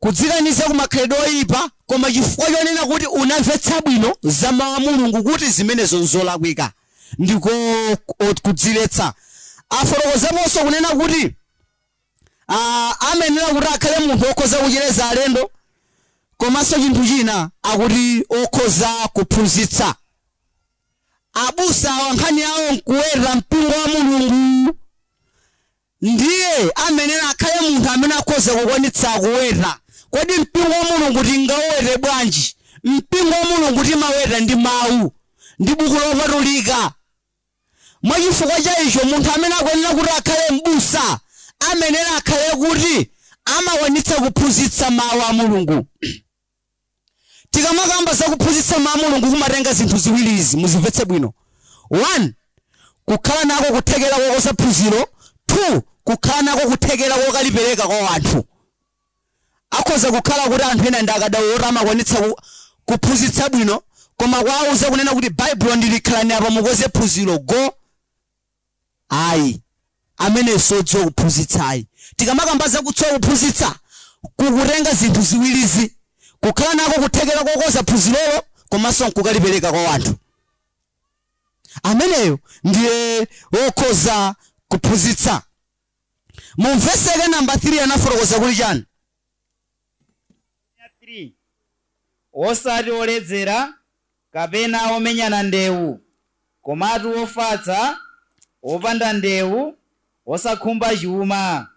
kudzikaniza ku makhalidwe oipa koma chifukwa chonena kuti unamvetsa bwino za Mau a Mulungu kuti zimenezo nzolakwika, ndiko kudziletsa. Afotokozaponso kunena kuti. a amayenera kuti akhale munthu okhoza kuchereza alendo komanso chinthu china akuti okhoza kuphunzitsa abusawa nkhani yawo nkuweta mpingo wa mulungu ndiye amayenera akhale munthu amene akhoza kukwanitsa kuweta kodi mpingo wa mulungu tingauwete bwanji mpingo wa mulungu timaweta ndi mawu ndi buku lopatulika Mwa chifukwa cha icho, munthu amene akuyenera kuti akhale m'busa amayenera akhale kuti amakwanitsa kuphunzitsa Mau a Mulungu. Tikamakamba za kuphunzitsa Mau a Mulungu kumatenga zinthu ziwiri izi, muzimvetse bwino, 1 kukhala nako kuthekera kokonza phunziro, 2 kukhala nako kuthekera kokalipereka kwa wanthu. Akhoza kukhala kuti anthu ena ndi akadaulo oti amakwanitsa ku kuphunzitsa bwino koma kuwauza kunena kuti Baibulo ndi ili khalani apa mukonze phunziro go ayi ameneyo siodziwa kuphunzitsa ayi. Tikamakamba za kudziwa kuphunzitsa kukutenga zinthu ziwirizi, kukhala nako kuthekera kokonza phunzirolo komanso nkukalipereka kwa wanthu. Ameneyo ndiye wokhoza kuphunzitsa. Mu vesi yake namba 3 anafotokoza kuti chani? 3, Wosati woledzera, kapena womenyana ndewu, komatu wofatsa, wopanda ndewu, wosakhumba chuma.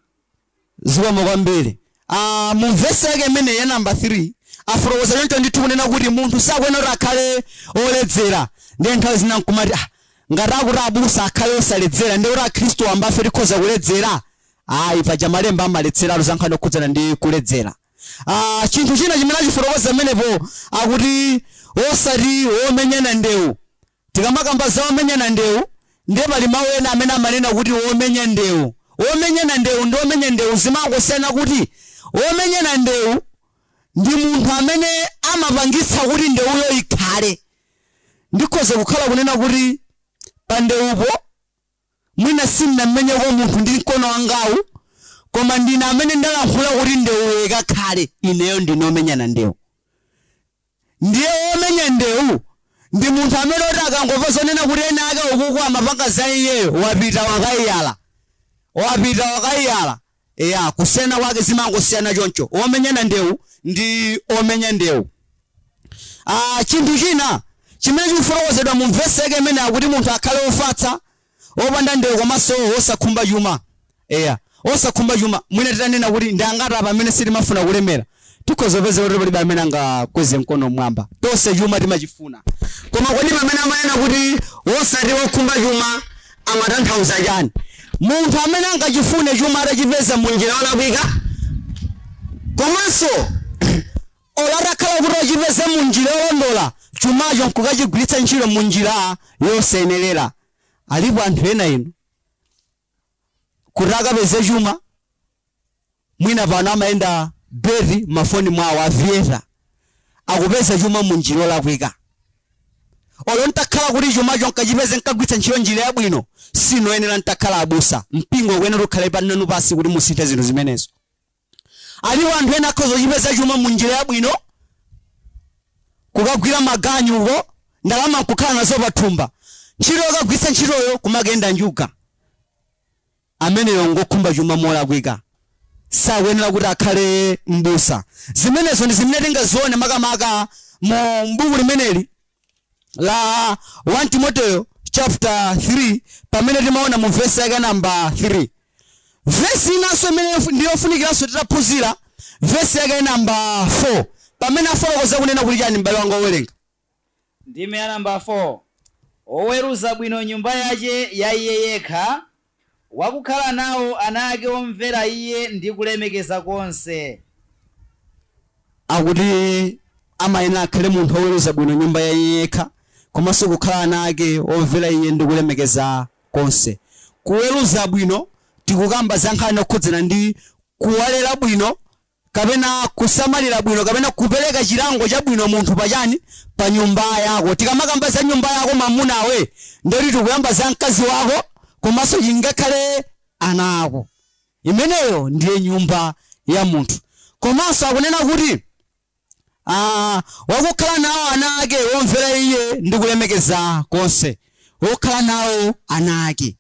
Zikomo kwambiri. a Mu vesi yake imene ya namba 3, afotokoza choncho ndithu kunena kuti munthu sakuyenera kuti akhale woledzera. Ndiye nthawi zina n'kumati, ah, ngati akuti abusa akhale osaledzera, ndiye kuti Akhristu wambafe tikhoza kuledzera? Ayi, paja Malemba amaletseratu za nkhani yokhudzana ndi kuledzera. a Chinthu china chimene achifotokoza pamenepo akuti osati womenyana ndewu. Tikamakamba za omenyana ndewu ndiye pali mawu ena amene amanena kuti womenya ndewu. Womenyana ndewu ndi womenya ndewu zimangosiyana kuti womenyana ndewu ndi munthu amene amapangitsa kuti ndewuyo ikhale. Ndikhoza kukhala kunena kuti pandewupo. Mwina sindinamumenyeko munthu ndi mkono wangawu, koma ndine amene ndalankhula kuti ndewuyo ikakhale. Ineyo ndine womenyana ndewu. Ndiye womenya ndewu ndi munthu amene woti akangomva zonena kuti enaake ukuku amapanga za iyeyo, wapita wakaiyala. Wapita wakaiyala. Eya, kusiyana kwake zimangosiyana choncho. Womenyana ndewu ndi omenya ndewu. Ah, chinthu china chimene chikufotokozedwa mu vesi yake imene akuti munthu akhale wofatsa, wopanda ndewu komanso wosakhumba chuma. Eya, wosakhumba chuma. Mwina titanena kuti ndi angati apa amene sitimafuna kulemera. Tikhoza kupeza kuti palibe amene angakweze mkono mmwamba. Tonse chuma timachifuna. Koma kodi pamene amanena kuti wosati wokhumba chuma amatanthauza chani? Munthu amene angachifune chuma atachipeza mu njira yolakwika komanso olo atakhala kuti wachipeza mu njira yolondola chumacho nkukachigwiritsa ntchito mu njira yosayenerera. Alipo anthu ena inu kuti akapeze chuma mwina pano amakenda beti mafoni mwawo aviyeta akupeza chuma mu njira yolakwika olo ntakhala kuti chumacho nkachipeze nkagwiritsa ntchito njira yabwino sinoyenera ntakhala abusa mpingo ukuyenera ukhale pananu pasi kuti musinthe zinthu zimenezo Alipo anthu ena akhoza kuchipeza chuma mu njira yabwino, kukagwira maganyu uko, ndalama nkukhala nazo pa thumba, ntchito yokagwiritsa ntchitoyo kumakenda njuga. Ameneyo ngokhumba chuma molakwika, sakuyenera kuti akhale m'busa. Zimenezo ndi zimene tingazione makamaka mu buku limeneli la 1 timoteyo chapter 3 pamene timaona mu vesi yake namba 3 vesi inanso imene ndi yofunikiranso titaphunzira vesi yake namba 4 pamene afotokoza kunena kuti chani m'bale wanga wowerenga ndime ya namba 4 oweruza bwino nyumba yace ya iye yekha wakukhala nawo ana ake omvera iye ndi kulemekeza konse. Akuti amayenera akhale munthu oweruza bwino nyumba ya iye yekha, komanso kukhala ana ake omvera iye ndi kulemekeza konse. Kuweruza bwino tikukamba za nkhani yokhudzana ndi kuwalera bwino kapena kusamalira bwino kapena kupereka chilango chabwino munthu pa chani pa nyumba yako tikamakamba za nyumba yako mamunawe ndoti tikuyamba za mkazi wako komanso ingakhale ana ako imeneyo ndiye nyumba ya munthu komanso akunena kuti ah, wakukhala nawo ana ake womvera iye ndi kulemekeza konse wokhala nawo ana ake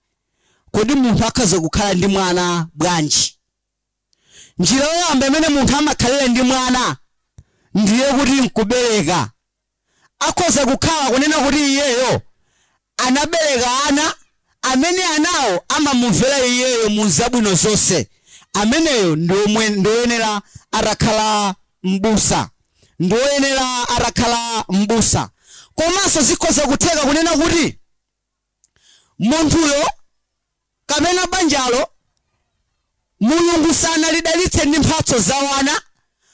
kodi munthu akhoza kukhala ndi mwana bwanji Njira yoyamba imene munthu amakhalira ndi mwana ndiye kuti n'kubereka. Akhoza kukhala kunena kuti iyeyo anabereka ana amene anawo amamumvera iyeyo mu zabwino zonse. Ameneyo ndi woyenera atakhala m'busa, ndi woyenera atakhala m'busa. Komanso zikhoza kutheka kunena kuti. munthuyo kapena banjalo, Mulungu sanalidalitse ndi mphatso za wana,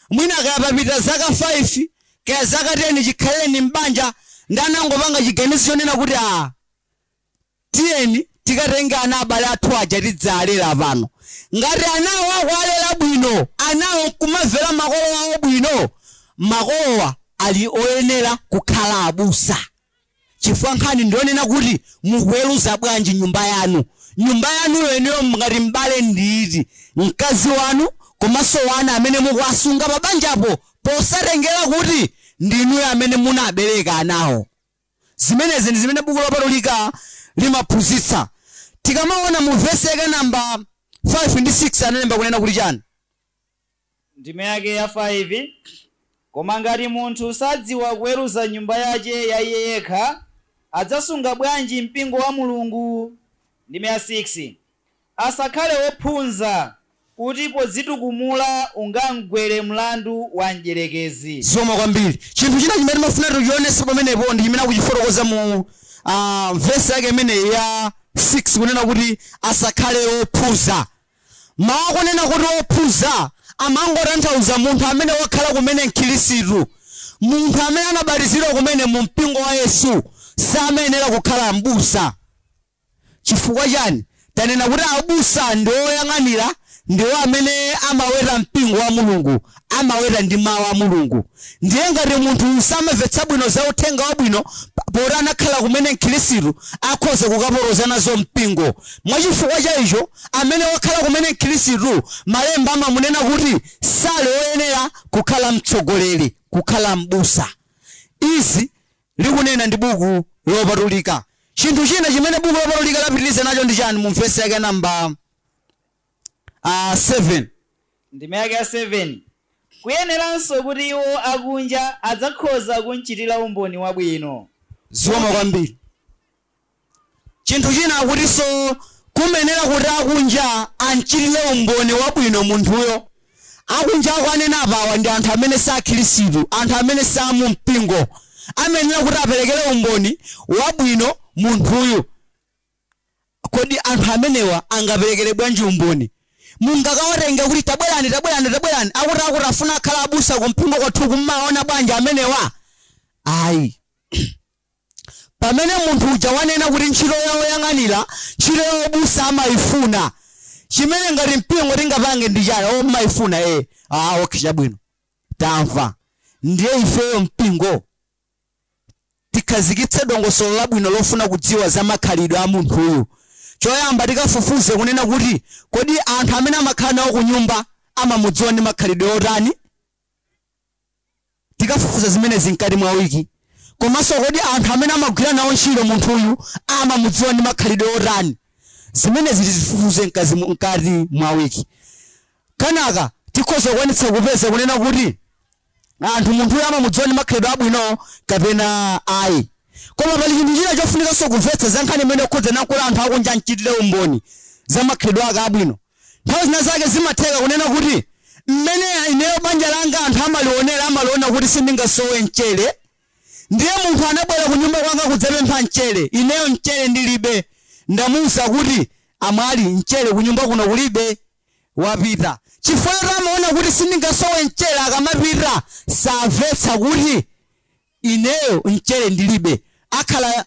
mwina kaya papita zaka 5 kaya zaka 10 chikhalireni m'banja ndi anangopanga chiganizo chonena kuti aa, tiyeni tikatenge ana abale athu aja tidzalere pano. Ngati anawo akuwalera bwino, anawo nkumamvera makolo awo bwino, makolowa ali oyenera kukhala abusa. chifukwa nkhani ndiyonena kuti mukuweruza bwanji nyumba yanu? Nyumba yanuyo inuyo ngati m'bale ndiyiti? Mkazi wanu komanso wana amene mukuwasunga pabanjapo posatengera kuti ndi inuyo amene munabereka anawo? Zimenezi ndi zimene buku lopatulika limaphunzitsa. Tikamaona mu vesi yake namba 5 ndi 6 analemba kunena kuti chani? Ndime yake ya 5, Koma ngati munthu sadziwa kuweruza nyumba yache ya iye yekha, adzasunga bwanji Mpingo wa Mulungu? Ndime ya 6, Asakhale wophunza, kuti podzitukumula ungamgwere mlandu wa Mdyerekezi. Zikomo kwambiri. Chinthu china chimene timafuna kuti tichionenso pamenepo ndi chimene akuchifotokoza mu vesi yake imene ya 6 kunena kuti, Asakhale wophunza. Mawu akunena kuti ophunza amangotanthauza munthu amene wakhala kumene Mkhirisitu. Munthu amene anabatizidwa kumene mu mpingo wa Yesu samayenera kukhala m'busa. Chifukwa chani? Tanena kuti abusa ndi oyang'anira ndiwo amene amaweta mpingo wa Mulungu. amaweta ndi mawu a mulungu ndiye ngati munthu samamvetsa bwino za uthenga wabwino pa- poti anakhala kumene mkhirisitu akhoza kukaporoza nazo mpingo mwachifukwa cha icho amene wakhala kumene mkhirisitu malemba amamunena kuti sali woyenera kukhala mtsogoleri kukhala m'busa izi likunena ndi buku lopatulika chinthu china chimene buku lopatulika lapitiriza nacho ndi chani mu vesi yake namba 7. Ndime yake ya 7, Kuyeneranso kuti iwo akunja adzakhoza kumchitira umboni wabwino. Zikomo kwambiri. Chinthu china akutinso kumayenera kuti akunja amchitire umboni wabwino munthuyo. Akunja akuwanena apawa ndi anthu amene si Akhristu, anthu amene si a mu mpingo. Amayenera kuti aperekere umboni wabwino munthuyu. Kodi anthu amenewa angaperekere bwanji umboni? Mungakawatenge kuti tabwerani tabwerani tabwerani akuti akuti afuna akhale abusa kumpingo kwathuku mumawaona bwanji amenewa? Ayi. Pamene munthu uja wanena kuti ntchito ya woyang'anira, ntchito ya ubusa amaifuna. Chimene ngati mpingo tingapange ndi chani? Oh mumaifuna ee. Ah okay chabwino. Tamva. Ndiye ifeyo mpingo? tikhazikitse dongosolo labwino lofuna kudziwa za makhalidwe a munthuyu. Choyamba tikafufuze kunena kuti kodi anthu amene amakhala nawo ku nyumba amamudziwa ndi makhalidwe otani? Tikafufuza zimenezi mkati mwa wiki. Komanso kodi anthu amene amagwira nawo ntchito munthuyu amamudziwa ndi makhalidwe otani? Zimenezi tizifufuze mkati mu- mkati mwa wiki. Kenaka tikhoza kukwanitsa kupeza kunena kuti anthu munthuyo amamudziwa ndi makhalidwe abwino kapena ayi. Koma pali chinthu china chofunikanso kumvetsa za nkhani imeneyi yokhudzana nkulola anthu akunja amchitire umboni za makhalidwe ake abwino. Nthawi zina zake zimatheka kunena kuti, Mmene ineyo banja langa anthu amalionera amaliona kuti sindingasowe mchere. Ndiye munthu anabwera kunyumba kwanga kudzapempha mchere, ineyo mchere ndilibe. Ndamuuza kuti, Amwali, mchere kunyumba kuno kulibe. wapita chifukwa choti amaona kuti sindingasowe mchere akamapita samvetsa kuti ineyo mchere ndilibe akhala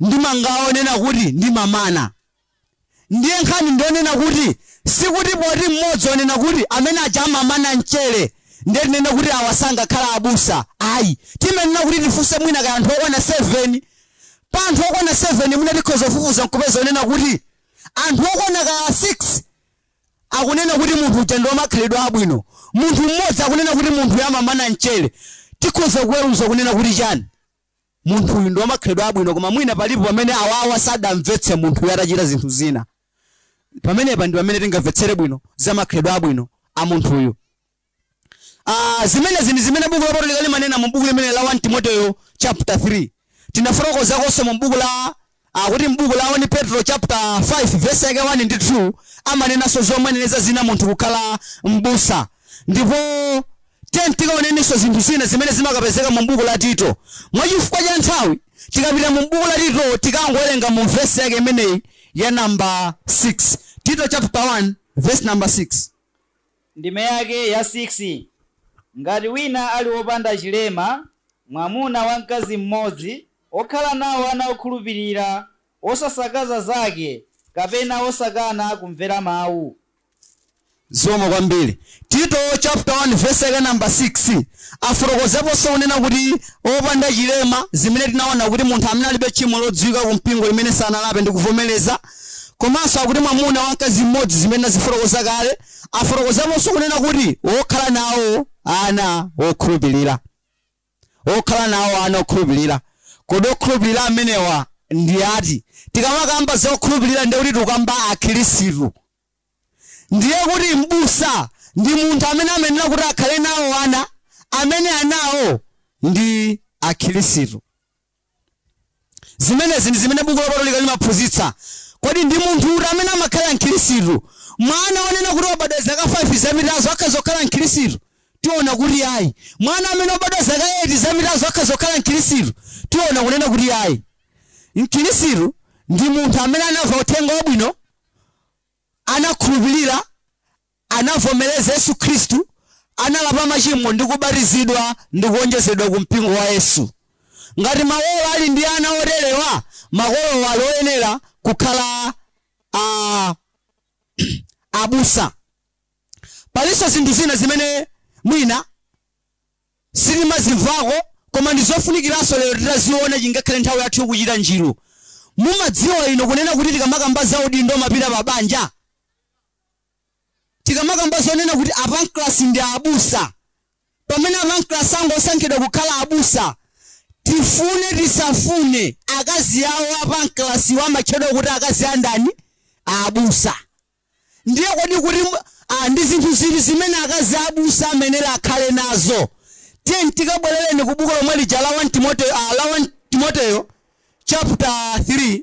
ndi mangawa onena kuti ndimamana ndiye nkhani ndionena kuti sikuti poti mmodzi wanena kuti amene aja amamana mchere ndiye tinene kuti awa sangakhala abusa ayi timenena kuti tifunse mwina kaya anthu okwana 7 pa anthu okwana 7 mwina tikhoza kufufuza nkupeza kunena kuti Anthu okwana kaya 6 akunena kuti munthu uja ndi wamakhalidwe abwino, munthu mmodzi akunena kuti munthuyu amamana mchere, tikhoza kuweruza kunena kuti chani? Munthuyu ndi wamakhalidwe abwino koma mwina palipo pamene awawa sadamvetse munthuyu atachita zinthu zina. Pamenepa ndi pamene tingamvetsere bwino za makhalidwe abwino a munthuyu. Ah, zimenezi ndi zimene buku lopatulika limanena mu buku limene la 1 timoteyo chapter 3 tinafotokozakonso mu buku la akuti mbuku la 1 petro chapter 5 verse yake 1 ndi 2 amanenanso zomuyenereza zina munthu kukhala mbusa ndipo tikaonenso zinthu zina zimene zimakapezeka mu buku la tito mwa chifukwa cha nthawi tikapita mu buku la tito tikangowerenga mu vesi yake imeneyi ya namba 6 tito chapter 1 verse number 6 Ndime yake ya 6, Ngati wina ali wopanda chilema, mwamuna wa mkazi mmodzi, wokhala nawo ana okhulupirira, wosasakaza zake, kapena wosakana kumvera mawu. Zikomo kwambiri. Tito chapter 1 verse yake number 6 afotokozaponso kunena kuti opanda chilema zimene tinaona kuti munthu amene alibe tchimo lodziwika ku mpingo limene sanalape ndi kuvomereza, Komanso akuti mwamuna wa mkazi mmodzi zimene tinazifotokoza kale, afotokozaponso kunena kuti wokhala nawo ana okhulupirira. Wokhala nawo ana okhulupirira. Kodi okhulupirira amenewa ndi ati? Tikamakamba za okhulupirira ndiye kuti tikukamba Akhristu. Ndiye kuti m'busa ndi munthu amene amayenera kuti akhale nawo ana, amene anawo ndi Akhristu. zimenezi ndi zimene buku lopatulika limaphunzitsa kodi ndi munthu uti amene amakhala mkhirisitu mwana wonena kuti wabadwa zaka 5 zapitazo akhoza kukhala mkhirisitu tiona kuti ayi mwana amene wabadwa zaka 8 zapitazo akhoza kukhala mkhirisitu tiona kunena kuti ayi mkhirisitu ndi munthu amene anamva uthenga wabwino anakhulupirira anavomereza Yesu Khristu, analapa machimo ndi kubatizidwa ndi kuwonjezedwa ku mpingo wa Yesu. Ngati makolo ali ndi ana oterewa, makolo ali oyenera kukhala abusa. Palinso zinthu zina zimene mwina sitimazimvako koma ndi zofunikiranso lero titaziona chingakhale nthawi yathu ikuchita njiru. Mumadziwa inu kunena kuti tikamakamba za udindo umapita pa banja? Tikamakamba zonena kuti a Pancras ndi abusa, pamene a Pancras angosankhidwa kukhala abusa, tifune tisafune akazi awo a Pancras wo amatchedwa kuti akazi a ndani? A abusa. Ndiye kodi kuti a, ndi zinthu ziti zimene akazi a abusa amayenera akhale nazo? Tiyeni tikabwerereni ku buku lomwe lija la 1 Timoteyo, a, la 1 Timoteyo chapter 3.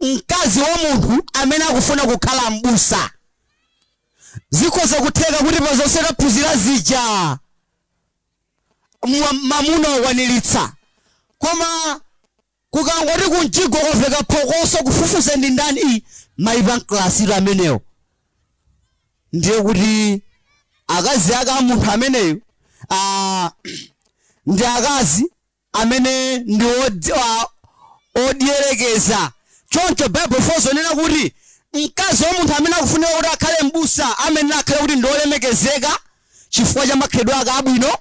mkazi wa munthu amene akufuna kukhala m'busa. Zikhoza kutheka kuti pa zonse taphunzira zija mwa- mamuna wakwaniritsa koma kukangoti kumjigo kwaveka phokoso kufufuza ndi ndani ayi Mai apamkulatu amenewo ndiye kuti akazi ake a munthu ameneyo ah, ndi akazi amene ndi odierekeza. Choncho Baibulo likufotokoza zonena kuti mkazi wa munthu amene akufunika kuti akhale m'busa amayenera akhale kuti ndi olemekezeka chifukwa cha makhalidwe ake abwino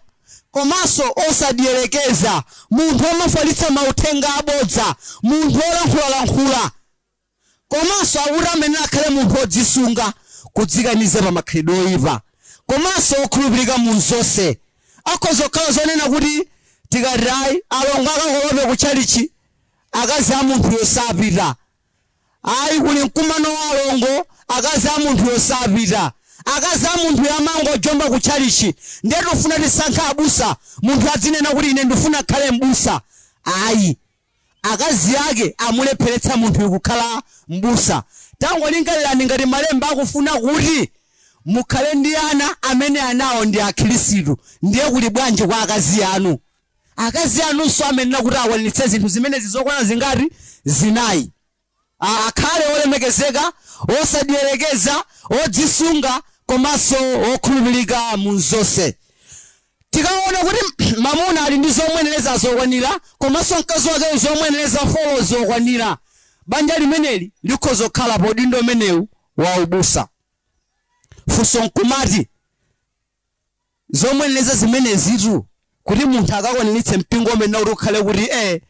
komanso osadierekeza, munthu omafalitsa mauthenga abodza, munthu olankhulalankhula. komanso akuti amayenera akhale munthu wodzisunga, kudzikaniza pa makhalidwe oipa, komanso wokhulupirika mu zonse. Akhoza kukhala zonena kuti tikati ayi, alongo akakolope ku tchalitchi, akazi a munthuyo sapita. Ayi, kuli mkumano wa alongo, akazi a munthuyo sapita. Akazi a munthuyo amangojomba ku tchalitchi. Ndiye tikufuna tisankhe abusa, munthu azinena kuti ine ndifuna nkhale m'busa. Ayi. akazi ake amulepheretsa munthuyu kukhala m'busa. Tangolingalirani ngati Malemba akufuna kuti mukhale ndi ana amene anawo ndi Akhristu, ndiye kuli bwanji kwa akazi anu? Akazi anunso amayenera kuti akwaniritse zinthu zimenezi zokwana zingati? Zinayi. Akhale wolemekezeka, wosadierekeza, wodzisunga komanso wokhulupirika mu zonse. Tikaona kuti mamuna ali ndi zomuyenereza zokwanira komanso mkazi wakeyo zomuyenereza 4 zokwanira, banja limeneli likhoza kukhala pa udindo umenewu wa ubusa. Funso nkumati, zomuyenereza zimenezitu kuti munthu akakwaniritse mpingo umayenera kuti ukhale kuti eh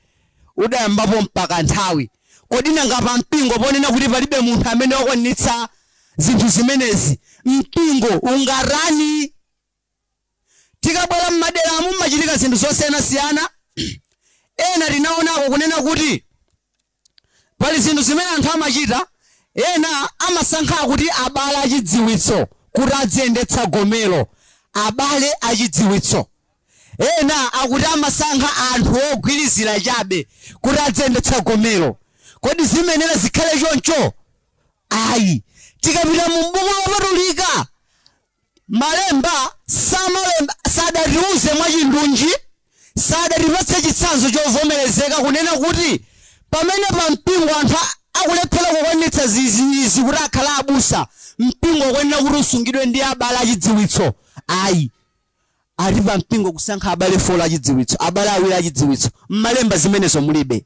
udayambapo mpaka nthawi kodi nanga pa mpingo ponena kuti palibe munthu amene wakwaniritsa zinthu zimenezi mpingo ungatani tikabwera m'maderamu mumachitika zinthu zosiyanasiyana ena tinaonako kunena kuti Pali zinthu zimene anthu amachita, ena amasankha akuti abale achidziwitso kuti aziyendetsa gomelo, abale achidziwitso. Ena akuti amasankha anthu ogwirizira chabe kuti aziyendetsa gomelo. Kodi zimayenera zikhale choncho? Ayi. Tikapita mu buku lopatulika, Malemba samalemba, sadatiuze mwachindunji, sadatipatse chitsanzo chovomerezeka kunena kuti pamene pa mpingo anthu a- akulephera kukwaniritsa zizizi kuti akhale abusa, mpingo ukuyenera kuti usungidwe ndi abale achidziwitso. Ayi, ati pa mpingo kusankha abale folo achidziwitso, abale awiri achidziwitso. M'malemba zimenezo mulibe.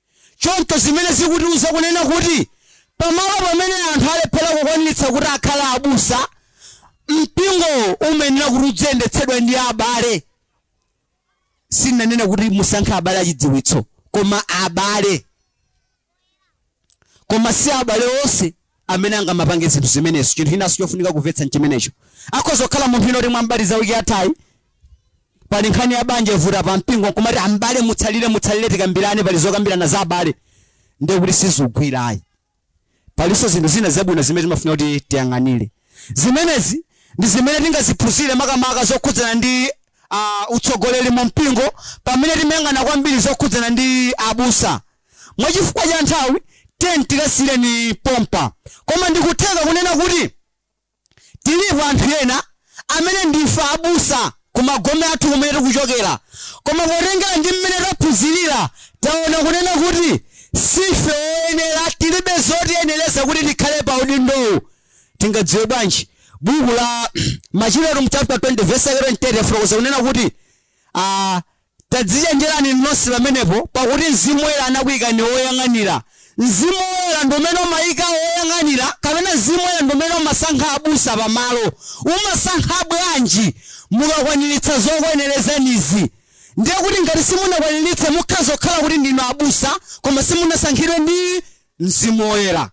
Choncho zimene zikutiuza kunena kuti pamalo pamene anthu alephera kukwaniritsa kuti akhale abusa, mpingowo umayenera kuti udziyendetsedwa ndi abale. Sinanena kuti musankhe abale achidziwitso, koma abale. Koma si abale onse amene angamapange zinthu zimenezo. Chinthu chinanso chofunika kumvetsa n'chimenecho. Akhoza kukhala munthu wina kuti mwam'batiza wiki yathayi, pali nkhani ya banja ivuta pa mpingo n'kumati am'bale mutsalire mutsalire tikambirane pali zokambirana za abale ndiye kuti sizigwira ayi. Palinso zinthu zina zabwino zimene timafuna kuti tiyang'anire. Zimenezi ndi zimene tingaziphunzire makamaka zokhudzana ndi ah, utsogoleri mu mpingo pamene timayang'ana kwambiri zokhudzana ndi abusa Mwa chifukwa cha nthawi tiyeni tikasiyire pompa. Koma ndikutheka kunena kuti alipo anthu ena amene ndife abusa ku magome athu kumene tikuchokera. Koma potengera ndi mmene taphunzirira taona kunena kuti sife oyenera, tilibe zotiyenereza kuti tikhale pa udindowu. Tingadziwe bwanji? Buku la Machitidwe chapter 20 verse yake 28 yafotokoza kunena kuti ah, Tadzichenjerani inu nonse pamenepo, pakuti Mzimu Woyera anakuikani woyang'anira. Mzimu Woyera ndi umene umaika woyang'anira, kapena Mzimu Woyera ndi umene umasankha abusa pamalo. Umasankha bwanji? Mukakwaniritsa zokuyenerezanizi. Ndiye kuti ngati simunakwaniritse, mukhoza kukhala kuti ndinu abusa, koma simunasankhidwe ndi Mzimu Woyera.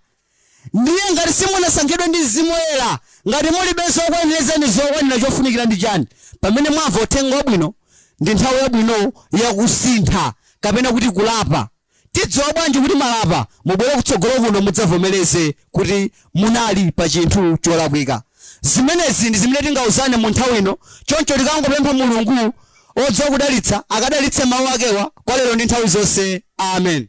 Ndiye ngati simunasankhidwe ndi Mzimu Woyera, ngati mulibe zokuyenerezani zokwanira chofunikira ndi chani pamene mwamva uthenga wabwino ndi nthawi yabwino yakusintha kapena kuti kulapa. Tidziwa bwanji kuti mwalapa? Mubwere kutsogolo kuno mudzavomereze kuti munali pa chinthu cholakwika. Zimenezi ndi zimene tingauzane mu nthawi ino choncho tikangopempha Mulungu odziwa kudalitsa akadalitse mau akewa kwa lero ndi nthawi zonse. Amen.